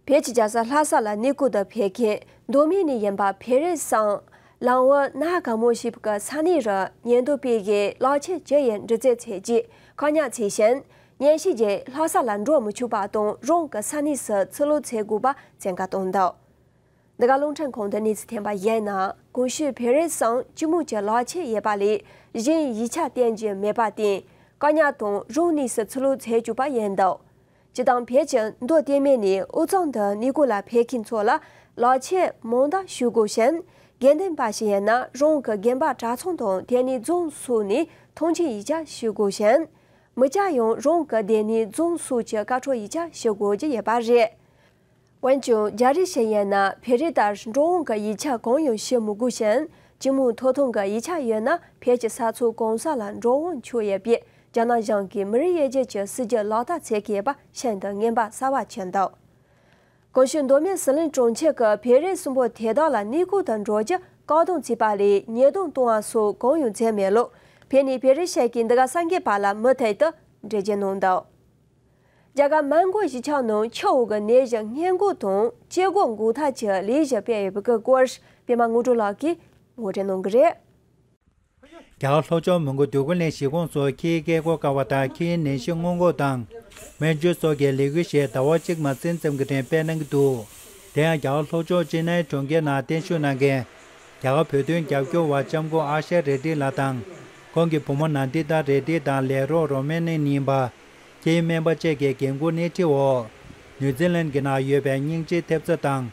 [SPEAKER 1] བོད་ཀྱི་རྒྱལ་ས་ལྷ་ས་ལ་གནས་སྐུ་དུ་ཕེབས་མཁན་མདོ་སྨད་ནས་ཡིན་པ་བེ་རི་སངས། ལམ་དབུ་ན་ག་མོ་ཞེས་པའི་ས་གནས་རུ་ཉེན་རྟོག་པས་གཞས་ལག་ཁྱེར་བཅུ་ཡི་འདྲི་རྩད་བྱས་རྗེས་བཀག་ཉར་བྱས་ཤིང། ཉེན་བཤིག་རྗེས་ལྷ་ས་ལ་འགྲོ་མི་ཆོག་པ་དང་རང་གི་ས་གནས་སུ་ཚུར་ལོག་བྱེད་དགོས་པ་བཙན་བཀའ་བཏང་འདུག་འདི་ག་རླུང་འཕྲིན་ཁང་དུ་གནས་ཚུལ་ཐོན་པ་བཞིན་ན་གོང་ཞུས་བེ་རི་སངས་སྤྱི་མོས་ཀྱི་ལག་ཁྱེར་ཡོད་པ་ལས་གཞན་ཡིག་ཆ་བསྟན་རྒྱུ་མེད་པར་བརྟེན་བཀག་ཉར་དང་རང་གནས་སུ་ཚུར་ལོག་བྱེད་བཅུག་པ་ཡིན་འདུག། སྤྱི་དང་བེད་ཀྱི་མདོ་བསྟན་མེད་ནས་འུ་ཚང་འདི་ནི་གོ་ལ་ཕེད་མཁན་ཚོ་ལ་ལག་ཆད་མང་དག་ཞུ་དགོས་ཤིང་དགེ་འདུན་པ་ཞིག་ཡིན་ན་རང་གི་རྒན་པ་གྲྭ་ཚང་དང་དེ་ནས་རྫོང་སོགས་ནས་ཐོངས་མཆན་ཡིག་ཆ་ཞུ་དགོས་ཤིང། མི་སྐྱ་ཡང་རང་གི་སྡེ་ནས་རྫོང་སོགས་ཀྱི་ཀ་འཕྲོ་ཡིག་ཆ་ཞུ་དགོས་ཀྱི་ཡོད་པ་རེད། འོན་ཀྱང་རྒྱ་རིགས་ཤིག་ཡིན་ན་བེ་རི་ལྟར་འགྲོ་འོང་གི་ཡིག་ཆ་གང་ཡང་ཤེས་མི་དགོས་ཤིང་སྤྱི་མོས་ཐོག་ཐང་གི་ཡིག་ཆ་ཡོད་ན་བེད་ཀྱི་ས་ཚོ་གང་ས་ལ་འགྲོ་འོང་ཆོག་ཡོད་པས་རྒྱ་ནག་གཞང་གི་མི་རིགས་དབྱེ་འབྱེད་ཀྱི་སྲིད་ཇུས་ལག་བསྟར་ཚད་མཁས་པ་ཤིན་ཏུ་ངན་པ་གསར་བ་བྱས་འདུག་གོང་ཞུས་མདོ་སྨད་ཟི་ལིང་གྲོང་ཁྱེར་གྱི་བེ་རི་གསུམ་པོ་དེ་དག་ལ་གནས་སྐོར་དུ་འགྲོ་རྒྱུ་བཀག་སྡོམ་བྱས་པ་ལས་ཉེས་རྡུང་གཏོང་བ་སོགས་གང་ཡང་མཛད་མེད་ལུགས་བེད་ནས་བེ་རི་ཤག་གིས་འདི་ག་སངས་རྒྱས་པ་ལ་མུ་མཐུད་དུ་འགྲེལ་བརྗོད་གནང་འདུག། རྒྱ་གར་དམར་མགོ་གཞིས་ཆགས་ནང་ཆུ་བོ་གི་ནད་གཞི་སྔས་འགོག་དང་
[SPEAKER 12] སྐྱེ་འགོག་འགོག་ཐབས་ཀྱི་ལས་གཞི་སྤེལ་ཡོད་པའི་སྐོར་སྤེལ་མ་དངོས་གྲུབ་ལགས་ཀྱིས་ངོ་སྤྲོད་གནང་གི་རེད། རྒྱ་གར་ལྷོ་ཕྱོགས་མོན་གྷོ་སྡོད་ཁུལ་ནས་གཞིས་ཁོངས་སུ་ཁྱི་ཡི་སྐད་གོ་དཀའ་བ་དང་ཁྱི་ཡི་ནད་གཞི་སྔོན་འགོག་དང། སྨན་བཅོས་སོགས་ཀྱི་ལས་འགུལ་ཞིག་ཟླ་བ་གཅིག་མ་ཟིན་ཙམ་གྱི་རིང་སྤེལ་གནང་གི་འདུག་དེ་ཡང་རྒྱ་གར་ལྷོ་ཕྱོགས་ཅེ་ནཱི་གྲོང་ཁྱེར་ནང་གཏན་བཞུགས་གནང་མཁན། རྒྱ་གར་བོད་དོན་རྒྱབ་སྐྱོར་བ་ལྕམ་སྐུ་ཨ་ཤ་རེ་ཏི་ལགས་དང། ཁོང་གི་བུ་མོ་ནཱ་ཏི་ཏཱ་རེ་ཏི་དང་ལས་རོགས་རོ་མན་ནན་ཡིན་པ། ཁྱེད་སྨན་པ་བཅས་ཀྱི་འགན་འཁུར་སྣེ་ཁྲིད་འོག་ནེའུ་ཙི་ལན་གྱི་ནང་ཡོད་པའི་སྙིང་རྗེའི་ཐེབས་རྩ་དང་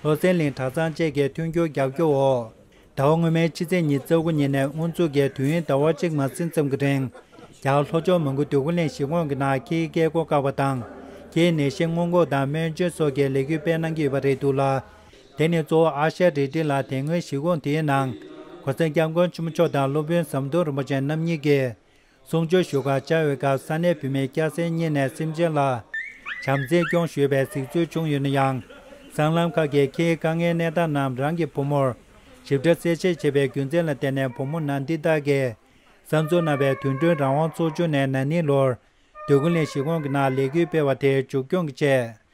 [SPEAKER 12] ལྷོ་སའི་ལིན་གྲྭ་ཚང་བཅས་ཀྱི་མཐུན་འགྱུར་རྒྱབ་སྐྱོར་འོག་ཟླ་བ་སྔོན་མའི་ཕྱི་ཚེས་ཉིན་རྩ་དགུ་ཉིན་ནས་དབུ་འཛུགས་ཀྱིས་དུས་ཡུན་ཟླ་བ་གཅིག་མ་ཟིན་ཙམ་གྱི་རིང་རྒྱ་ལྷོ་ཕྱོགས་མོན་གྷོ་འདོད་རྒུ་གླིང་གཞིས་ཁོངས་ཀྱི་ནང་ཁྱིའི་སྐད་སྒོ་བཀག་པ་དང་ཁྱིའི་ནད་གཞི་སྔོན་འགོག་དང་སྨན་བཅོས་སོགས་ཀྱི་ལས་གུས་སྤེལ་གནང་གི་ཡོད་པ་རེད་འདུག་ལ། དེ་ནི་གཙོ་བོ་ཨ་ཤ་རི་ཏི་ལ་དེ་སྔོན་གཞིས་ཁོངས་དེའི་ནང་གོ་སེར་སྐྱབས་མགོན་ཆེན་པོ་མཆོག་དང་སློབ་དཔོན་ཟམ་གདོང་རིན་པོ་ཆེ་རྣམ་གཉིས་ཀྱིས་གསུང་ཆོས་ཞུ་སྐབས་བཅར་བའི་སྐབས་ས་གནས་བུད་མེད་སྐྱ་སེར་གཉིས་ནས་སེམས་ཅན་ལ་བྱམས་བརྩེ་སྐྱོང་ཞུས་པའི་གཟིགས་ཚུལ་བྱུང་ཡོད་ན་ཡང། སྲང་ལམ་ཁག་གི་ཁྱིའི་དཀའ་ངལ་གནས་སྟངས་རྣམས་རང་གི་བུ་མོར་ཞིབ་ཕྲ་གསལ་བཤད་བྱས་པའི་རྒྱུ་མཚན་ལ་བརྟེན་ནས་བུ་མོ་ནག་འདི་དག་གིས་བསམ་ཚུལ་གནང་བའི་དུས་སྟོན་རང་དབང་ཚོགས་ཆུང་ནས་ན་ནིང་ལོར་བདུད་དགོན་ལས་གཞི་ཁོང་གི་ནང་ལས་འགུལ་སྤེལ་བ་དེ་མཇུག་སྐྱོང་གི་ཆེད་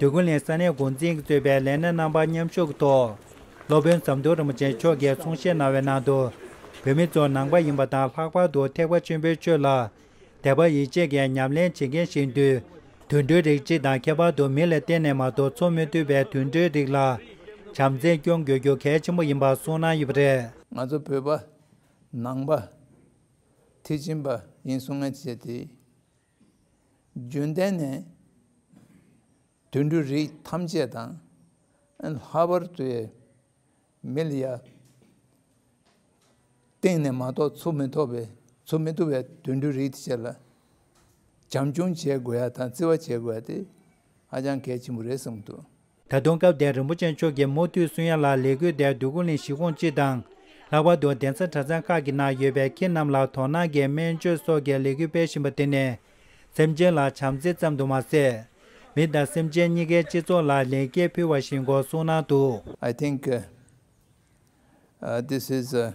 [SPEAKER 12] དུས་ཀུན་ལས་ས་གནས་འགོ་འཛིན་གྱིས་གཙོས་པའི་ལས་སྣེ་རྣམ་པ་མཉམ་ཞུགས་ཀྱི་ཐོག་སློབ་དཔོན་ཟམ་གདོང་རིན་པོ་ཆེ་མཆོག་གིས་གསུང་བཤད་གནང་བའི་ནང་དུ་བོད་མི་ཚོ་ནང་པ་ཡིན་པ་དང་ལྷག་པར་དུ་ཐེག་པ་ཆེན་པོའི་ཆོས་ལ་དད་པ་ཡིད་ཆེས་ཀྱིས་ཉམས་ལེན་བྱེད་མཁན་ཞིག་འདུས། དུད་འགྲོའི་རིགས་གཅིག་དང་ཁྱད་པར་དུ་མི་ལ་གཏན་ནས་མ་གཏོགས་འཚོ་མི་ཐུབ་པའི་དུད་འགྲོའི་རིགས་ལ་བྱམས་བརྩེས་སྐྱོང་དགོས་རྒྱུ་གལ་ཆེན་པོ་ཡིན་པ་གསུངས་གནང་ཡོད་པ་རེད། ང་ཚོ་བོད་པ།
[SPEAKER 13] ནང་པ། མཐིལ་ཕྱིན་པ་ཡིན་གསུང་ངན་བྱས་ཏེ། རྒྱུན་ལྡན་ནས། དུད་འགྲོའི་རིགས་ཐམས་ཅད་དང། ལྷ་བར་དུ་ཡི། མི་ལ་ཡ། སྟེང་ནས་མ་གཏོགས་ཚུར་མི་ཐོབ་པའི་ཚུར་མི་བཏུ་བའི་དུད་འགྲོའི་རིགས་དེ་བཅས་ལ། བྱམས་སྐྱོང་བྱེད་དགོས་ཡ་དང་བརྩི་བ་བྱེད་དགོས་ཡ་དེ། ཧ་ཅང་གལ་ཆེན་པོ་རེད་གསུངས་འདུག། ད་དུང་སྐལ་ལྡན་
[SPEAKER 12] རིན་པོ་ཆེ་མཆོག་གིས་མུ་མཐུད་སུན་ཡ་ལགས་ལས་འགུལ་དེར་བསྡུས་སྐུ་ལིང་བཞི་སྐོང་གཅིག་དང། ལྷག་པར་དུ་གདན་ས་གྲྭ་ཚང་ཁག་གི་ནང་ཡོད་པའི་ཁྱེད་རྣམས་ལ་དོ་སྣང་གིས་སྨན་བཅོས་སོགས་ཀྱི་ལས་འགུལ་སྤེལ་བཞིན་པ་དེ་ནི། སེམས་ཅན་ལ་བྱམས་བརྩེ་ཙམ་དུ་མ་ཟད། མི་དང་སེམས་ཅན་གཉིས་ཀའི་སྤྱི་ཚོགས་ལ་ལེགས་སྐྱེས་ཕུལ་བ་ཞིག་འགོ་བཟུང་གནང་འདུག། I think
[SPEAKER 13] this is a.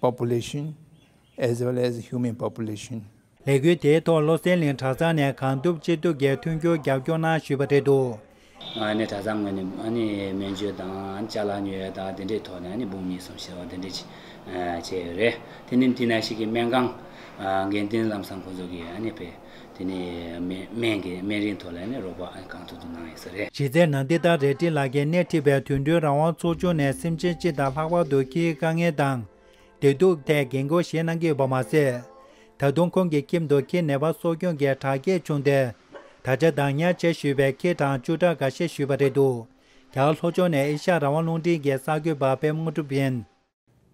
[SPEAKER 13] Population as well as Human Population། ལས་འགུལ་དེའི་ཐོག་
[SPEAKER 12] བློ་གསལ་གླིང་གྲྭ་ཚང་ནས་གང་ཐུབ་ཅི་ཐུབ་ཀྱིས་མཐུན་འགྱུར་རྒྱབ་སྐྱོར་གནང་ཞུས་པ་རེད་འདུག། ང་ནི་གྲྭ་ཚང་
[SPEAKER 14] ངོས་ནས་སྨན་བཅོས་དང་ལྕགས་ལམ་ཉོ་བའི་དང་དེ་འདྲའི་ཐོག་ནས་འབུམ་གཉིས་གསུམ་ཞེས་པ་དེ་འདྲས་བྱས་ཡོད་རེད་དེ་ནི་དེ་ནས་ཞིག་གིས་སྨན་ཁང། དགེ་འདུན་ལམ་སང་ཁོང་ཚོ་གིས་སྤེལ། དེ་ནས་སྨན་གྱི་སྨན་རིན་ཐོག་ལས་ནས་རོགས་པ་གང་ཐུབ་ཐུབ་གནང་ཡོད་ས་རེད། བྱས་ཚད་ནང་འདི་ལྟར་རལ་
[SPEAKER 12] གྲི་ལག་ཁྱེར་སྣེ་ཁྲིད་པའི་དུད་འགྲོའི་རང་དབང་ཚོགས་ཆུང་ནས་སེམས་ཅན་སྤྱི་དང་ལྷག་པར་དུ་ཁྱིའི་དཀའ་ངལ་དང། བདེ་སྡུག་ཐད་འགན་འཁུར་བཞེས་གནང་གི་ཡོད་པ་མ་ཟད། ད་དུང་ཁོང་གི་ཁྱིམ་དུ་ཁྱིའི་ནད་པ་གསོ་སྐྱོང་གི་དྲག་སྐྱེད་བྱུང་སྟེ། ད་ཆ་བདག་ཉར་བྱས་ཞུས་པའི་ཁྱི་གྲངས་བཅུ་ཕྲག་འགའ་ཤས་ཞུས་པ་རེད་འདུག་རྒྱ་གར་ལྷོ་ཕྱོགས་ནས་ཨེ་ཤ་རང་དབང་རླུང་འཕྲིན་གྱི་གསར་འགོད་པ་པད་མོ་གྲུབ་ཡན།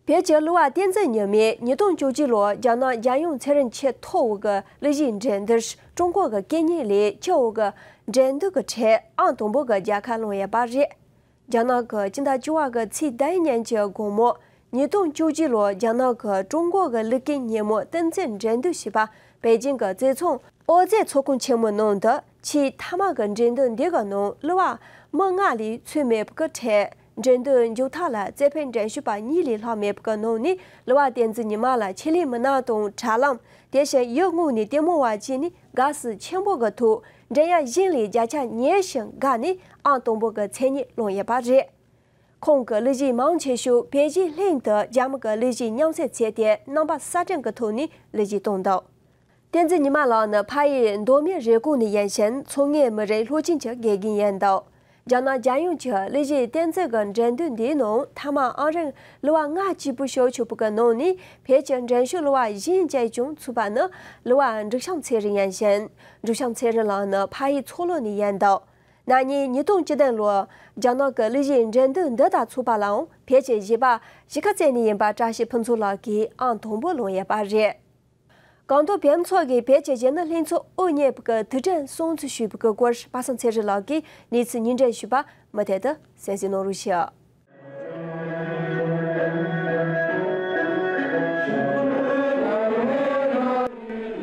[SPEAKER 12] བོད་ཀྱི་གླུ་བ་བསྟན་འཛིན་ཉི་མས་ཉིས་སྟོང་བཅུ་གཅིག་ལོར་རྒྱ་ནག་རྒྱལ་ཡོངས་ཚེ་རིང་ཆེས་མཐོ་བོ་གི་གླུ་གཞིའི་འགྲན་སྡུར་ཀྲུང་གོ་གི་སྐད་གཉིས་ལས་
[SPEAKER 1] ཁྱད་བོ་གི་འགྲན་སྡུར་གྱི་གྲས་ཨང་དང་པོ་གི་རྒྱལ་ཁ་ལོངས་ཡས་པ་རེད། རྒྱ་ནག་གི་སྤྱི་ཟླ་བཅུ་བ་གི་ཚེས་ཟླ་ཡི་ཉིན་གྱི་དགོང་མོ་ཉིས་སྟོང་བཅུ་གཅིག་ལོར་རྒྱ་ནག་གི་ཀྲུང་གོ་གི་གླུ་སྐད་སྙན་མོ་བསྟན་འཛིན་འགྲན་སྡུར་ཞེས་པ་པེ་ཅིང་གི་རྩེ་ཚོང་ཨོ་རྩེད་ཚོགས་ཁང་ཆེན་མོའི་ནང་དུ་ཆེས་མཐའ་མ་གི་འགྲན་སྡུར་འདི་གི་ནང་གླུ་བ་མི་ལྔ་ལས་ཚོད་མེད་པོ་གི་གྲས་འགྲན་བསྡུར་མཇུག་མཐའ་ལ་རྩེ་ཕན་འགྲན་ཞུགས་པ་གཉིས་ལས་ལྷག་མེད་པའི་ནང་ནས་ལུ་བ་བསྟན་འཛིན་ཉི་མ་ལ་ཆེད་ལས་མི་སྣ་དང་དྲ་ལམ། དེ་བཞིན་ཡུལ་དངོས་ནས་ལྟད་མོ་བ་བཅས་ནི་དགའ་བསུ་ཆེན་པོ་གི་ཐོག་འགྲན་ཡ་གཞན་ལས་བརྒྱ་ཆ་ཉེར་བཞི་འགའ་ནི་ཨང་དང་པོ་གི་མཚན་སྙན་བླངས་ཡོད་པ་རེད། ཁོང་གི་གླུ་གཞས་མང་ཆེ་ཤོས་བལ་གཞས་ལྷན་དུ་རྒྱ་མི་གི་གླུ་གཞས་མཉམ་བསྲེས་བྱས་ཏེ་རྣམ་པ་གསར་སྐྲུན་གྱི་ཐོག་ནས་གླུ་གཞས་བཏང་འདུག་བསྟན་འཛིན་ཉི་མ་ལགས་ནི་ཕ་ཡི་མདོ་སྨད་རེབ་གོང་ནས་ཡིན་ཞིང་མཚོ་སྔའི་མི་རིགས་ལྷོ་ཆིངས་ཀྱི་དགེ་རྒན་ཡིན་འདུག་རྒྱ་ནག་རྒྱལ་ཡོངས་ཀྱི་གླུ་གཞས་བསྟན་འཛིན་གྱི་འགྲན་བསྡུར་འདིའི་ནང་མཐའ་མ་ཨང་རིང་གླུ་བ་ལྔ་གཅིག་པུ་ཞོགས་ཆུ་བོ་གི་ནང་ནས་བོད་ཀྱི་འགྲན་ཞུགས་གླུ་བ་གཞན་བཅས་ཀྱང་ཚུད་པ་ནི་གླུ་བ་འབྲུག་བྱམས་ཚེ་རིང་ཡིན་ཞིང་འབྲུག་བྱམས་ཚེ་རིང་ལགས་ནི་ཕ་ཡི་མཚོ་ལྷོ་ནས་ཡིན་འདུག་ན་ནིང་ཉིས་སྟོང་བཅུ་བདུན་ལོར་རྒྱ་ནག་གི་གླུ་གཞས་འགྲན་བསྡུར་འདི་དག་ཚུད་པ་ལའང་བོད་ཀྱི་གཞས་པ་གཞིས་ཀ་རྩེ་ནས་ཡིན་པ་བཀྲ་ཤིས་ཕུན་ཚོགས་ལགས་ཀྱིས་ཨང་དང་པོ་ལོངས་ཡོད་པ་རེད། གང་དུ་བེམ་ཚོགས་ཀྱི་བེད་སྤྱད་བྱས་ན་ལྷན་ཚོགས་དབུ་བརྙེས་པ་གི་དུས་དྲན་སྲུང་བརྩི་ཞུས་པའི་སྐོར་པ་སངས་ཚེ་རིང་ལགས་ཀྱིས་གནས་ཚུལ་ཉིན་དྲན་ཞུས་པ་མུ་མཐད་དུ་གསན་གཟིགས་གནང་རོགས་ཞུ།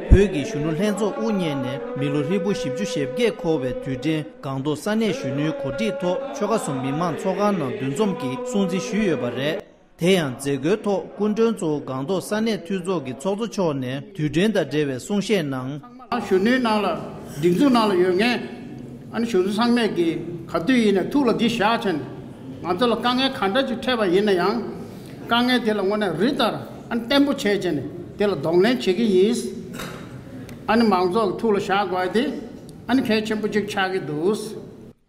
[SPEAKER 6] བོད་ཀྱི་གཞོན་ནུ་ལྷན་ཚོགས་དབུ་བརྙེས་ནས་མི་ལོ་ཧྲིལ་པོ་བཞི་བཅུ་ཞེ་བརྒྱད་འཁོར་བའི་དུས་དྲན་སྒང་ཏུང་ས་གནས་གཞོན་ནུའི་གོ་སྒྲིག་ཐོག་ཆོལ་ཁ་གསུམ་མི་མང་ཚོགས་ཁང་ནང་འདུ་འཛོམས་ཀྱིས་སྲུང་བརྩི་ཞུས་ཡོད་པ་རེད། དེ་ཡང་མཛད་སྒོའི་ཐོག་སྐུ་མགྲོན་གཙོ་བོ་སྒང་ཏོག་ས་གནས་འཐུས་ཚོགས་ཀྱི་ཚོགས་གཙོ་མཆོག་ནས་དུས་དྲན་དང་འབྲེལ་བའི་གསུང་བཤད་གནང། གཞོན་
[SPEAKER 15] ནུའི་ནང་ལ་སྒྲིག་འཛུགས་ནང་ལ་ཡོད་མཁན། གཞོན་ནུ་ཚང་མས་ཀྱིས་ག་དུས་ཡིན་ནས་ཐུགས་ལ་གྱིས་བཞག་བྱས་ནས། ང་ཚོ་ལ་དཀའ་ངལ་ག་འདྲ་ཞིག་འཕྲད་པ་ཡིན་ན་ཡང། དཀའ་ངལ་དེ་ལ་དངོས་གནས་རི་ལྟར་བརྟན་པོ་བྱས་བྱས་ནས་དེ་ལ་གདོང་ལེན་བྱེད་ཀྱི་ཡིན། མང་ཚོགས་ཀྱི་ཐུགས་ལ་བཞག་དགོས་ཏེ་གལ་ཆེན་པོ་གཅིག་ཆགས་ཀྱི་འདུག།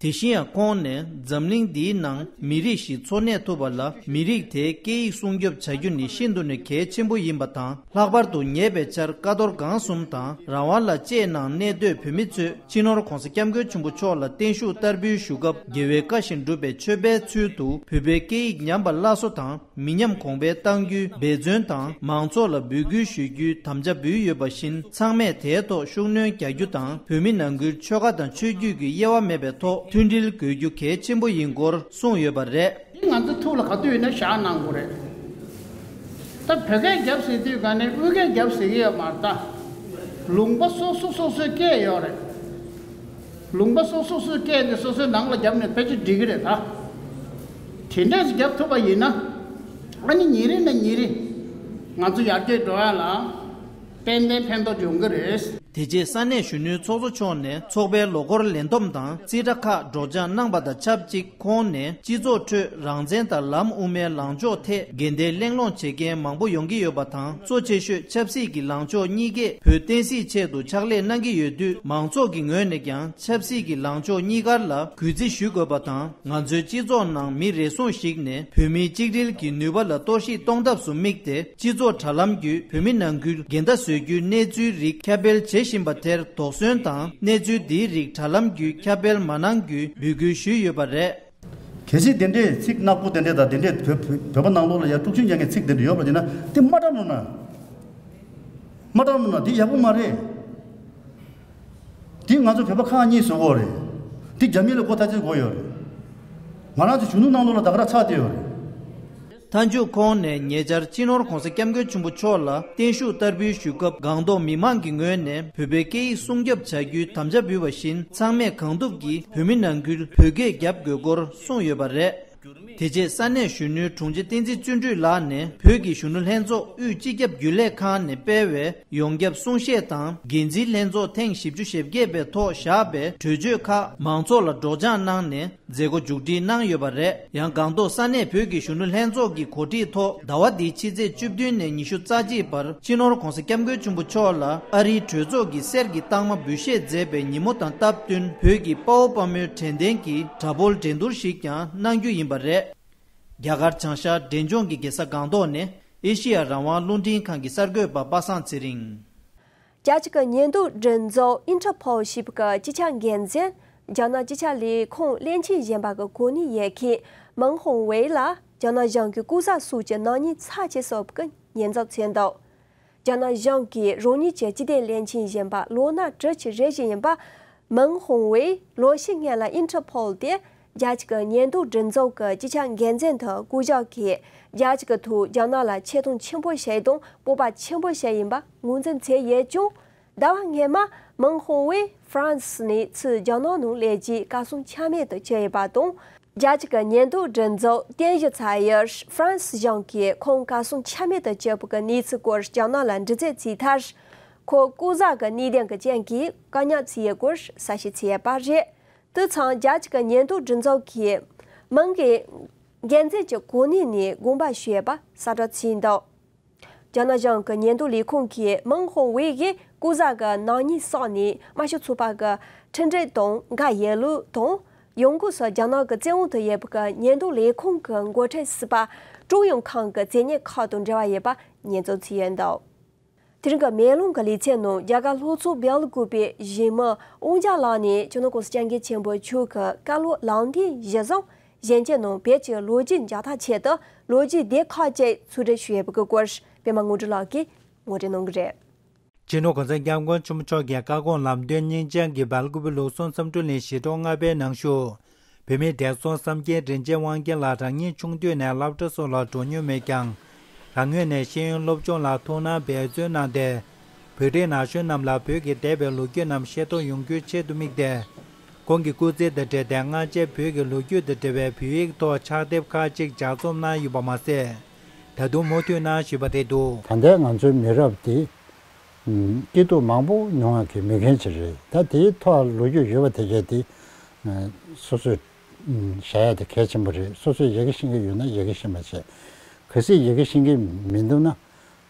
[SPEAKER 15] དེ་བཞིན་ཡང་
[SPEAKER 6] ཁོང་ནས་འཛམ་གླིང་འདིའི་ནང་མི་རིགས་ཤིག་འཚོ་གནས་ཐུབ་པ་ལ་མི་རིགས་དེའི་སྐད་ཡིག་སྲུང་སྐྱོབ་བྱ་རྒྱུ་ནི་ཤིན་ཏུ་ནས་གལ་ཆེན་པོ་ཡིན་པ་དང་ལྷག་པར་དུ་ཉེ་བའི་ཆར་ཀ་རྡོར་སྒང་གསུམ་དང་རང་དབང་ལ་བཅས་ནང་གནས་སྡོད་བོད་མི་ཚོས་སྤྱི་ནོར ྋགོང་ས ྋསྐྱབས་མགོན་ཆེན་པོ་མཆོག་ལ་བརྟན་བཞུགས་བསྟར་འབུལ་ཞུ་སྐབས་རྒྱལ་བའི་བཀའ་བཞིན་སྒྲུབ་པའི་མཆོད་པའི་ཚུལ་དུ་བོད་པའི་སྐད་ཡིག་ཉམས་པ་སླར་གསོ་དང། མི་ཉམས་གོང་འཕེལ་གཏང་རྒྱུའི་འབད་བརྩོན་དང་མང་ཚོགས་ལ་འབོད་སྐུལ་ཞུ་རྒྱུའི་དམ་བཅའ་འབུལ་ཡོད་པ་བཞིན་ཚང་མས་དེའི་ཐོག་ཤུགས་སྣོན་རྒྱག་རྒྱུ་དང་བོད་མི་ནང་ཁུལ་ཆོལ་ཁ་དང་ཆོས་བརྒྱུད་ཀྱི་དབྱེ་བ་མེད་པའི་ཐོག་མཐུན་སྒྲིལ་དགོས་རྒྱུ་གལ་ཆེན་པོ་ཡིན་སྐོར་གསུངས་ཡོད་པ་རེད། འདི་ང་ཚོའི་ཐུགས་ལ་ག་
[SPEAKER 15] དུས་ཡོད་ན་བཞག་གནང་དགོས་རེད། ད་བོད་སྐད་རྒྱབ་ཟེར་དུས་ག་ནས་དབུས་སྐད་རྒྱབ་ཟེར་གི་ཡོད་མ་རེད་ད། ལུང་པ་སོ་སོ་སོ་སོའི་སྐད་ཡོད་རེད། ལུང་པ་སོ་སོ་སོའི་སྐད་འདི་སོ་སོའི་ནང་ལ་རྒྱབ་ནས་ཕལ་ཆེར་འགྲིག་གི་རེད་ད། དེ་འདྲ་ཞིག་བརྒྱབ་ཐུབ་པ་ཡིན་ན། ཨ་ནི་ཉིན་རེ་ནས་ཉིན་རེ་ང་ཚོ་ཡར་རྒྱས་འགྲོ་ཡ་ལ་ཏན་ཏན་ཕན་ཐོགས་ཡོང་གི་རེད། དེ་རྗེས་ས་གནས་གཞོན་
[SPEAKER 6] ནུའི་ཚོགས་གཙོ་མཆོག་ནས་ཚོགས་པའི་ལོ་འཁོར་ལེན་འདོམས་དང་རྩིས་ཁྲ་ཁག་སྒྲོག་སྦྱངས་གནང་པ་དང་ཆབས་ཅིག་ཁོང་ནས་སྤྱི་ཚོགས་ཁྲོད་རང་བཙན་དང་ལམ་དབུ་མའི་ལངས་ཕྱོགས་ཐད་འགལ་ཟླའི་གླེང་སློང་བྱེད་མཁན་མང་པོ་ཡོང་གི་ཡོད་པ་དང་གཙོ་ཆེ་ཤོས་ཆབ་སྲིད་ཀྱི་ལངས་ཕྱོགས་གཉིས་ཀས་བོད་བསྟན་སྲིད་ཆེད་དུ་ཕྱག་ལས་གནང་གི་ཡོད་དུས་མང་ཚོགས་ཀྱི་ངོས་ནས་ཀྱང་ཆབ་སྲིད་ཀྱི་ལངས་ཕྱོགས་གཉིས་ཀར་ལ་གུས་བརྩི་ཞུ་དགོས་པ་དང། ང་ཚོའི་སྤྱི་ཚོགས་ནང་མི་རེ་ཟུང་ཞིག་ནས་བོད་མིའི་གཅིག་སྒྲིལ་གྱི་ནུས་པ་ལ་གཏོར་བཤིག་གཏོང་ཐབས་སུ་དམིགས་ཏེ་སྤྱི་ཚོགས་དྲ་ལམ་བརྒྱུད་བོད་མི་ནང་ཁུལ་འགལ་ཟླ་བཟོ་རྒྱུའི་གནས་ཚུལ་རིགས་ཁྱབ་སྤེལ་བྱེད་བཞིན་པ་དེར་དོགས་ཟོན་དང་གནས་ཚུལ་འདིའི་རིགས་དྲ་ལམ་བརྒྱུད་ཁྱབ་སྤེལ་མ་གནང་རྒྱུའི་འབོད་སྐུལ་ཞུས་ཡོད་པ་རེད། གལ་སྲིད་དེ་
[SPEAKER 16] འདྲའི་ཚིག་སྣ་དགུ་དེ་འདྲའི་དང་དེ་འདྲའི་བོད་བོད་པ་ནང་ལོགས་ལ་ཡར་དཀྲུག་ཤིང་རྒྱག་མཁན་ཚིག་དེ་འདྲ་ཡོད་པ་ཡིན་ན་དེ་མ་དྲང་མོ་ན། མ་དྲང་མོ་ན་དེ་ཡག་པོ་མ་རེད། འདི་ང་ཚོ་བོད་པ་ཁག་གཉིས་བཟོ་འོག་རེད། འདི་རྒྱ་མི་ལ་སྒོ་ཐ་ཆེར་བགོ་ཡོད་རེད། ང་རང་ཚོའི་གཞུང་ནུབ་གནང་ལོག་ལ་བདག་ར་ཚག་བསྡད་ཡོད་རེད། མཐའ་
[SPEAKER 6] མཇུག་ཁོང་ནས་ཉེ་ཆར་སྤྱི་ནོར ྋགོང་ས ྋསྐྱབས་མགོན་ཆེན་པོ་མཆོག་ལ་བརྟན་བཞུགས་བསྟར་འབུལ་ཞུས་སྐབས་སྒང་ཏོག་མི་མང་གི་ངོས་ནས་བོད་པའི་སྐད་ཡིག་སྲུང་སྐྱོབ་བྱ་རྒྱུའི་དམ་བཅའ་འབུལ་བ་བཞིན་ཚང་མས་གང་ཐུབ་ཀྱིས་བོད་མི་ནང་ཁུལ་བོད་སྐད་རྒྱབ་དགོས་སྐོར་གསུངས་ཡོད་པ་རེད། དེ་རྗེས་ས་གནས་གཞོན་ནུའི་དྲུང་ཆེ་བསྟན་འཛིན་བརྩོན་འགྲུས་ལགས་ནས་བོད་ཀྱི་གཞོན་ནུ་ལྷན་ཚོགས་དབུས་སྤྱི་ཁྱབ་རྒྱུན་ལས་ཁང་ནས་སྤེལ་བའི་ཡོངས་ཁྱབ་གསུང་བཤད་དང་འགན་འཛིན་ལྷན་ཚོགས་ཐེངས་བཞི་བཅུ་ཞེ་བརྒྱད་པའི་ཐོག་བཞག་པའི་གྲོས་ཆོད་ཁག་མང་ཚོགས་ལ་སྒྲོག་སྦྱངས་གནང་ནས་མཛད་སྒོ་མཇུག་སྒྲིལ་གནང་ཡོད་པ་རེད། ཡང་སྒང་ཏོག་ས་གནས་བོད་ཀྱི་གཞོན་ནུ་ལྷན་ཚོགས་ཀྱི་གོ་སྒྲིག་ཐོག་ཟླ་བ་འདིའི་ཕྱི་ཚེས་བཅུ་བདུན་ནས་ཉི་ཤུ་རྩ་གཅིག་བར་སྤྱི་ནོར ྋགོང་ས ྋསྐྱབས་མགོན་ཆེན་པོ་མཆོག་ལ་ཨ་རིའི་གྲོས་ཚོགས་ཀྱིས་གསེར་གྱི་རྟགས་མ་འབུལ་བཞེས་མཛད་པའི་ཉིན་མོ་དང་སྟབས་བསྟུན་བོད་ཀྱི་དཔའ་བོ་དཔའ་མོའི་དྲན་རྟེན་གྱི་དྲ་འབུར་འགྲན་བསྡུར་ཞིག་ཀྱང་གནང་རྒྱུ་ཡིན་པ་རེད། རྒྱ་གར་བྱང་ཤར་འབྲས་ལྗོངས་ཀྱི་གེ་སར་སྒང་ཏོག་ནི་ཨེ་ཤེ་ཡ་རང་དབང་རླུང་འཕྲིན་ཁང་གི་གསར་འགོད་པ་པ་སངས་ཚེ་རིང། རྒྱལ་སྤྱི་ཀྱི་
[SPEAKER 1] ཉེན་རྟོག་འགྲན་ཚོགས Interpol ཞིབ་ཀྱི་སྤྱི་ཁྱབ་འགན་འཛིན་རྒྱ་ནག་སྤྱི་ཁྱབ་ལས་ཁུངས་སླད་ཕྱིན་གཞན་པ་གི་གོ་གནས་ཡལ་མཁན་མིང་ཧོང་ཝེ་ལ་རྒྱ་ནག་གཞུང་གི་ལྐུགས་ཟ་སུག་གི་ནག་ཉེས་ཚབས་ཆེ་སོབ་ཀྱི་ཉེན་ཚབས་ཚོད་འདོགས་རྒྱ་ནག་གཞུང་གིས་རང་ཉིད་ཀྱི་སྤྱི་བདེ་བློན་ཆེན་གཞོན་པ་ལོ་ན་བགྲོད་ཀྱི་རེ་བཞི་ཡིན་པ། མིང་ཧོང་ཝེ་ལོ་བཞི་ལྔ་ལ Interpol སྟེ་རྒྱལ་སྤྱི་གི་ཉེན་རྟོག་སྒྲིག་འཛུགས་ཀྱི་སྤྱི་ཁྱབ་འགན་འཛིན་དུ་བསྐོ་གཞག་གིས་རྒྱལ་སྤྱི་ཀྱི་ཐོག་རྒྱ་ནག་ལ་ཆེ་མཐོང་ཆེན་པོ་བྱས་དང་སྤོབས་པ་ཆེན་པོ་བྱས་ཡིན་པ་ངོས་འཛིན་བྱས་ཡོད་ཀྱང། ཟླ་བ་སྔའི་མ་མིང་ཧོ་ཝེ་ཧྥ་རན་སི་ནས་ཚུད་རྒྱ་ནག་ནང་ལས་ཀྱི་བཀའ་གསུང་ཆ་མེད་དུ་གྱེས་ཡོད་པ་དང། རྒྱ་གཅིག་གི་ཉེན་རྟོག་སྒྲིག་འཛུགས་རྟེན་གཞི་ཚ་ཡར་ཧྥ་རན་སི་གཞུང་གིས་ཁོང་བཀའ་གསུང་ཆ་མེད་དུ་གྱེས་པོ་གི་གནས་ཚུལ་སྐོར་རྒྱ་ནག་ལ་འདྲི་རྩད་བྱས་མཐར། ཁོ་སྐུ་བཟའ་གི་གནས་གདན་གྱི་རྐྱེན་གྱིས་བཀག་ཉར་བྱས་ཡོད་སྐོར་གསལ་བཤད་བྱས་ཡོད་པ་རེད། དུད་ཚང་རྒྱ་གཅིག་གི་ཉེན་རྟོག་སྒྲིག་འཛུགས་ཀྱི་མིང་གིས་འགན་འཛིན་གྱི་གོ་གནས་ནས་དགོངས་པ་ཞུས་ཡོད་པ་གསལ་བསྒྲགས་བྱས་འདུག། རྒྱ་ནག་གཞུང་གི་ཉེན་རྟོག་ལས་ཁུངས་ཀྱིས་མིང་ཧོང་ཝེ་ཡི་སྐུ་ཟླ་གི་ནང་ཉིན་སོགས་ནས་དམར་ཤོག་ཚོགས་པ་གི་འཕྲིན་སྦྲེལ་དང་འགའ་ཡན་ལུའུ་དང། ཡོང་གུའུ་སོགས་རྒྱ་ནག་གི་བཙན་འོག་ཏུ་ཡོད་པའི་ཉེན་རྟོག་ལས་ཁུངས་ཀྱི་མགོ་ཁྲིད་སི་པ་ཀྲུང་ཡོང་ཁང་གི་མཛེས་ཉེན་ཁང་དང་འབྲེལ་བ་ཡོད་པ་ཉེས་འཛུགས་བྱས་ཡོད་འདུག་དེ་རིང་གི་མེ་ལོང་གི་ལེ་ཚན་ནང་རྒྱ་གར་ལྷོ་ཚོགས་བལ་དགུ་པའི་གཞིས་མི་ཨུ་འཇཱ་ལགས་ནས་ཅོ་ནོ་ཀོ་སི་སྤྱང་ཀི་ཆེན་པོ་ཕྱུགས་ཀྱི་བཀའ་སློབ་ལམ་སྟོན་གཞི་བཟང་གཞན་གྱི་ནང་བོད་ཀྱི་ལོ་རྒྱུས་འཇགས་ཐག་ཆད་དུ་ལོ་རྒྱུས་སྡེ་ཁག་བཅས་ཚུར་སྒྲིག་ཞུ་ཡས་
[SPEAKER 12] པའི་སྐོར་སྤེལ་མ་དངོས་གྲུབ་ལགས་ཀྱིས་ངོ་སྤྲོད་གནང་གི་རེད། སྤྱི་ནོར་གོང་ས་སྐྱབས་མགོན་ཆེན་མོ་མཆོག་གི་བཀའ་དགོངས་ལམ་སྟོན་སྙིང་བཅངས་ཀྱི་སྦལ་ཀུབ་བུ་ལུག་གསོ་མཚམས་བསྐྲུན་ལེན་ཞི་ཁྲོ་ལྔ་པའི་ནང་ཞུགས། བུད་མེད་འདས་སོང་བསམ་མཁན་རིན་ཆེན་དབང་རྒྱལ་ལགས་རང་ཉིད་ཆུང་དུས་ནས་བླ་བྲེ་སོགས་ལ་འགྲོ་མྱོང་མེད་ཀྱང། རང་ངོས་ནས་ཤེས་ཡོན་སློབ་སྦྱོང་ལ་ཐུགས་སྣང་འབད་བརྩོན་གནང་སྟེ། བོད་རིགས་ན་གཞོན་རྣམས་ལ་བོད་ཀྱི་འདས་པའི་ལོ་རྒྱུས་རྣམས་ཤེས་རྟོགས་ཡོང་རྒྱུའི་ཆེད་དུ་དམིགས་ཏེ། ཁོང་གི་སྐུ་ཚེ་དང་འབྲེལ་ཏེ་སྔ་ཕྱིར་བོད་ཀྱི་ལོ་རྒྱུས་དང་འབྲེལ་བའི་བོད་ཡིག་ཐོག་ཕྱག་དེབ་ཁག་ཅིག་ལྗགས་རྩོམ་གནང་ཡོད་པ་མ་ཟད།
[SPEAKER 17] ད་
[SPEAKER 12] དུང་མུ་མཐུད་གནང་བཞིན་
[SPEAKER 17] པ་
[SPEAKER 12] རེད་འདུག།
[SPEAKER 17] ད་
[SPEAKER 12] ལྟའི་ང་ཚོའི་
[SPEAKER 17] མི་
[SPEAKER 12] རབས་དེ། སྐྱིད་
[SPEAKER 17] སྡུག་མང་པོ་མྱོང་བ་གི་མི་རྒན་ཞིག་རེད་ད་དེའི་ཐོག་ལོ་རྒྱུས་ཡོད་པ་དེ་གས་དེ། སོ་སོས་བྱ་ཡ་དེ་གལ་ཆེན་པོ་རེད་སོ་སོས་ཡི་གེ་ཤེས་ཀྱི་ཡོད་ན་ཡི་གེ་ཤེས་མ་བྱས་གལ་སྲིད་ཡི་གེ་ཤེས་ཀྱི་མི་འདུག་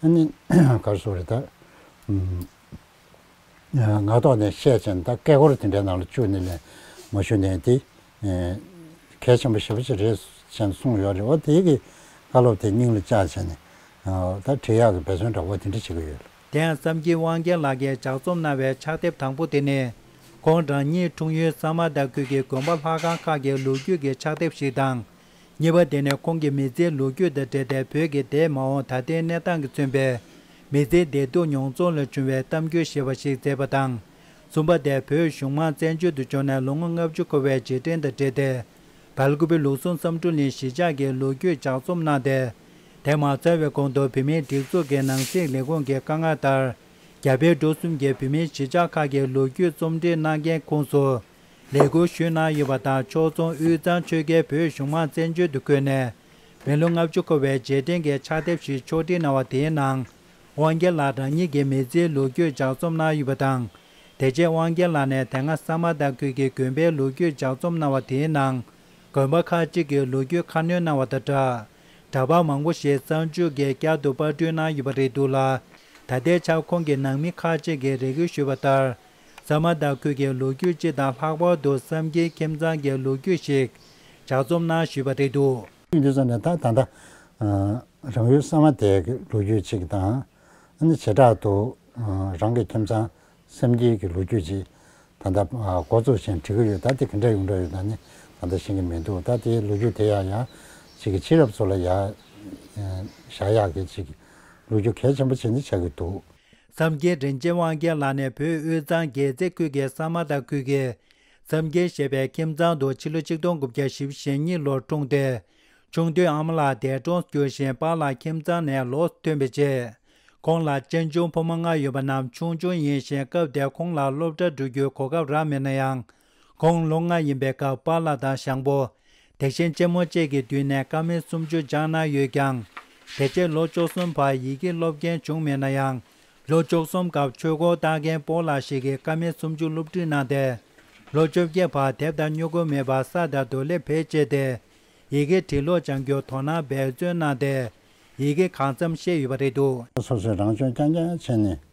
[SPEAKER 17] ན། གར་སོང་རེད་ད། ང་ལྟོགས་ནས་བཤད་ཅིང་ད་སྐད་སྐོར་དེ་འདྲའི་ནང་ལ་བཅུག་ནས་ལན་མ་ཞུ་ནས་འདི་གལ་ཆེན་པོ་ཞེ་པོ་ཞིག་རེད་བཞིན་གསུངས་ཡོད་རེད་བ་དེ་གིས་བཀའ་སློབ་དེ་སྙིང་ལ་བཅགས་བྱས་ནས་ད་དྲི་ཡག་གི་འབད་བརྩོན་འདྲ་བོ་དེ་འདྲ་བྱེད་ཀྱི་ཡོད་ལ། དེང་བསམ་གྱིས་
[SPEAKER 12] དབང་རྒྱལ་ལགས་ཀྱིས་ལྗགས་རྩོམ་གནང་བའི་ཕྱག་དེབ་དང་པོ་དེ་ནི། ཁོང་རང་ཉིད་འཁྲུངས་ཡུལ་གཙང་མ་དར་ཁུལ་གྱི་དགོན་པ་ལྷ་ཁང་ཁག་གི་ལོ་རྒྱུས་ཀྱི་ཕྱག་དེབ་ཞིག་དང། གཉིས་པ་དེ་ནི་ཁོང་གིས་མི་ཚེའི་ལོ་རྒྱུས་དང་འབྲེལ་ཏེ་བོད་ཀྱི་དེའི་མ་འོངས་ད་ལྟའི་གནས་སྟངས་ཀྱིས་མཚོན་པའི་མི་ཚེའི་བདེ་སྡུག་མྱོང་ཚོར་ལ་བྱུང་བའི་གཏམ་རྒྱུད་ཞེས་པ་ཞིག་མཛད་པ་དང། གསུམ་པ་དེ་བོད་གཞུང་མང་བཙན་བྱོལ་དུ་བྱོན་ནས་ལོ་ངོ་ལྔ་བཅུ་འཁོར་བའི་རྗེས་དྲན་དང་འབྲེལ་ཏེ། བལ་དགུ་པའི་ལུགས་ཟུང་བསམ་དྲུང་གླིང་གཞིས་ཆགས་ཀྱི་ལོ་རྒྱུས་ལྗགས་རྩོམ་གནང་སྟེ། དེ་མ་ཚར་བའི་གོང་དུ་བུད་མེད་སྒྲིག་འཛུགས་ཀྱི་ནང་སྲིད་ལས་ཁུངས་ཀྱི་བཀའ་མངགས་ལྟར། རྒྱ་བལ་འབྲུག་གསུམ་གྱི་བུད་མེད་གཞིས་ཆགས་ཁག་གི་ལོ་རྒྱུས་རྩོམ་སྒྲིག་གནང་མཁན་ཁོངས་སུ། ལས་འཁུར་ཞུས་གནང་ཡོད་པ་དང་ཕྱོགས་མཚུངས་དབུས་གཙང་ཆོལ་ཁའི་བོད་གཞུང་མང་བཙན་བྱོལ་དུ་བསྐོས་ནས་མི་ལོ་ལྔ་བཅུ་འཁོར་བའི་རྗེས་དྲན་གྱི་ཕྱག་དེབ་ཞིག་ཕྱོགས་སྒྲིག་གནང་བ་དེའི་ནང་དབང་རྒྱལ་ལགས་རང་ཉིད་ཀྱི་མི་ཚེའི་ལོ་རྒྱུས་ལྗགས་རྩོམ་གནང་ཡོད་པ་དང། དེ་རྗེས་དབང་རྒྱལ་ལགས་ནས་དེ་སྔ་ས་མ་ཏཱ་ཁུལ་གྱི་དགོན་པའི་ལོ་རྒྱུས་ལྗགས་རྩོམ་གནང་བ་དེའི་ནང་དགོན་པ་ཁག་གཅིག་གི་ལོ་རྒྱུས་ཁ་སྣོན་གནང་བ་དང་སྦྲགས་འདྲ་པར་མང་པོ་ཞིག་གཙང་ཆུ་འགས་བསྐྱར་དུ་དཔར་བསྐྲུན་གནང་ཡོད་པ་རེད་འདུག་ལ། ད་ལྟའི་ཆར་ཁོང་གིས་ནང་མི་ཁག་གཅིག་གི་རེ་སྐུལ་ཞུས་པ་ལྟར་ཟ་མ་ཏཱ་ཁུལ་གྱི་ལོ་རྒྱུས་སྤྱི་དང་ལྷག་པར་དུ་བསམ་ཁྱིའི་ཁྱིམ་ཚང་གི་ལོ་རྒྱུས་ཤིག་ཇག་རྩོམ་ནང་ཞུས་པ་རེད་འདུག། ཁྱིམ་དུ་སོང་ནས་ད་ད་
[SPEAKER 17] ལྟ་རང་ཡུལ་ས་མ་དེ་གི་ལོ་རྒྱུས་ཅིག་དང། ནི་བྱེ་བྲག་ཏུ་རང་གི་ཁྱིམ་ཚང་བསམ་ཁྱིའི་གི་ལོ་རྒྱུས་ཅིག་ད་ལྟ་མགོ་ཚུགས་བཞིན་བྲི་གི་ཡོད་ད་དེ་ག་འདྲ་ཡོང་འདྲ་ཡོད་ད་ནི་ད་ལྟ་ཤེས་ཀྱི་མི་འདུག་ད་དེའི་ལོ་རྒྱུས་དེ་ཡག་ཡག་ཅིག་གི་ཕྱི་རབས་ཚོ་ལ་ཡག་བཞག་ཡག་གི་ཅིག་ལོ་རྒྱུས་གལ་ཆེན་པོ་ཅིག་ནི་ཆགས་ཀྱི་འདུག། འཚམས་རྒྱལ་དྲིན་
[SPEAKER 12] ཅན་དབང་རྒྱལ་ལགས་ནས་བོད་དབུས་གཙང་རྒྱལ་རྩེ་ཁུལ་གྱི་ས་དམར་དང་ཁུལ་གྱི་འཚམས་རྒྱལ་ཞེས་པའི་ཁྱིམ་ཚང་དུ་ཕྱི་ལོ་ཆིག་སྟོང་དགུ་བརྒྱ་བཞི་བཞི་གཉིས་ལོར་འཁྲུངས་ཏེ། ཆུང་དུས་ཨ་མ་ལགས་འདས་གྲོངས་སུ་གྱུར་ཞིང་པཱ་ལགས་ཁྱིམ་ཚང་ནས་ལོགས་སུ་ཐོན་པའི་རྗེས། ཁོང་ལ་གཅེན་གཅུང་ཕོ་མོ་ལྔ་ཡོད་པ་རྣམས་ཆུང་ཆུང་ཡིན་ཞིང་སྐབས་དེར་ཁོང་ལ་སློབ་གྲྭར་འགྲོ་རྒྱུའི་གོ་སྐབས་རག་མེད་ན་ཡང། དགུང་ལོ་ལྔ་ཡིན་པའི་སྐབས་པཱ་ལགས་དང་ཞང་པོ། དེ་བཞིན་གཅེན་མོ་བཅས་ཀྱི་མདུན་ནས་ཀ་མད་སུམ་ཅུ་སྦྱངས་གནང་ཡོད་ཀྱང། དེ་རྗེས་ལོ་བཅུ་གསུམ་བར་ཡི་གེ་སློབ་མཁན་བྱུང་མེད་ན་ཡང། ལོ་བཅུ་གསུམ་སྐབས་ཆོས་སྒོར་བཏགས་མཁན་སྤོ་ལགས་ཤིག་གིས་ཀ་མད་སུམ་ཅུ་སློབ་ཁྲིད་གནང་སྟེ། ལོ་བཅོ་བརྒྱད་བར་དེབ་དང་སྨྱུ་གུ་མེད་པར་ས་དང་རྡོ་སླེབས་བེད་སྤྱད་དེ། ཡི་གེ་བྲིས་ཀློག་སྦྱང་རྒྱུར་དོ་སྣང་འབད་བརྩོན་གནང་སྟེ། ཡི་གེ་གང་འཚམ་ཤེས་ཡོད་པ་རེད་འདུག། སོ་སོས་རང་སྦྱོང་རྐྱང་
[SPEAKER 17] རྐྱང་བྱས་ནས།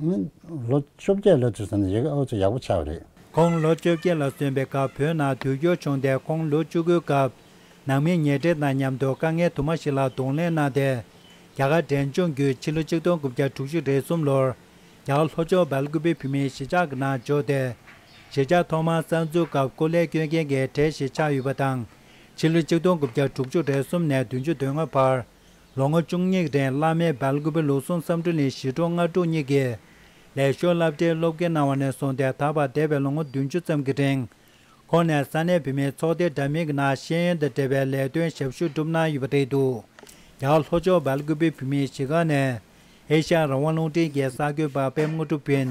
[SPEAKER 17] ལོ་བཅོ་བརྒྱད་ལོ་དེར་སོན་ན་ཡི་གེ་ཨོ་ཆོས་ཡག་པོ་ཆགས་པ་རེད། ཁོང་ལོ་བཅོ་བརྒྱད་
[SPEAKER 12] ལ་སོན་པའི་སྐབས་བོད་ནང་དུས་འགྱུར་བྱུང་སྟེ་ཁོང་ལོ་བཅུ་དགུའི་སྐབས། ནང་མི་ཉེ་འབྲེལ་དང་མཉམ་དུ་དཀའ་ངལ་དུ་མ་ཞིག་ལ་གདོང་ལེན་གནང་སྟེ། རྒྱ་གར་འབྲས་ལྗོངས་བརྒྱུད་ཕྱི་ལོ་ཆིག་སྟོང་དགུ་བརྒྱ་དྲུག་ཅུ་རེ་གསུམ་ལོར། རྒྱ་གར་ལྷོ་ཕྱོགས་བལ་སྐུད་པའི་བུད་མེད་གཞིས་ཆགས་ཀྱི་ནང་འབྱོར་ཏེ། གཞིས་ཆགས་ཐོག་མར་གསར་འཛུགས་སྐབས་ཀོ་ལེ་སྐྱོད་མཁན་གྱི་གྲས་གཞིས་ཆགས་ཡོད་པ་དང། ཕྱི་ལོ་ཆིག་སྟོང་དགུ་བརྒྱ་དྲུག་ཅུ་རེ་གསུམ་ནས་བདུན་ཅུ་དོན་ལྔ་བར། ལོ་ངོ་བཅུ་གཉིས་རིང་བླ་མའི་སྦལ་དགུ་པའི་ལུགས་ཟུང་བསམ་འགྲུབ་ནས་ཞི་ཁྲོ་ལྔ་དྲུག་གཉིས་ཀྱི་ལས་ཤོག་བསླབ་གྲྭའི་སློབ་དགེ་གནང་བ་ནས་བཟུང་སྟེ་ད་བར་འདས་པའི་ལོ་ངོ་བདུན་ཅུ་ཙམ་གྱི་རིང་ཁོང་ནས་ས་གནས་བུད་མེད་ཚོགས་སྡེ་འདྲ་མིན་གྱི་ནང་ཤེས་ཡོན་དང་འབྲེལ་བའི་ལས་དོན་ཞབས་ཞུ་བསྒྲུབས་གནང་ཡོད་པ་རེད་འདུག་ཡང་ལྷོ་ཕྱོགས་སྦལ་དགུ་པའི་བུད་མེད་གཞིས་ཁང་ནས་ཨེ་ཤ་རང་དབང་རླུང་འཕྲིན་རྒྱལ་ས་ཁོས་འབའ་པའི་དངོས་གྲུབ་བུན།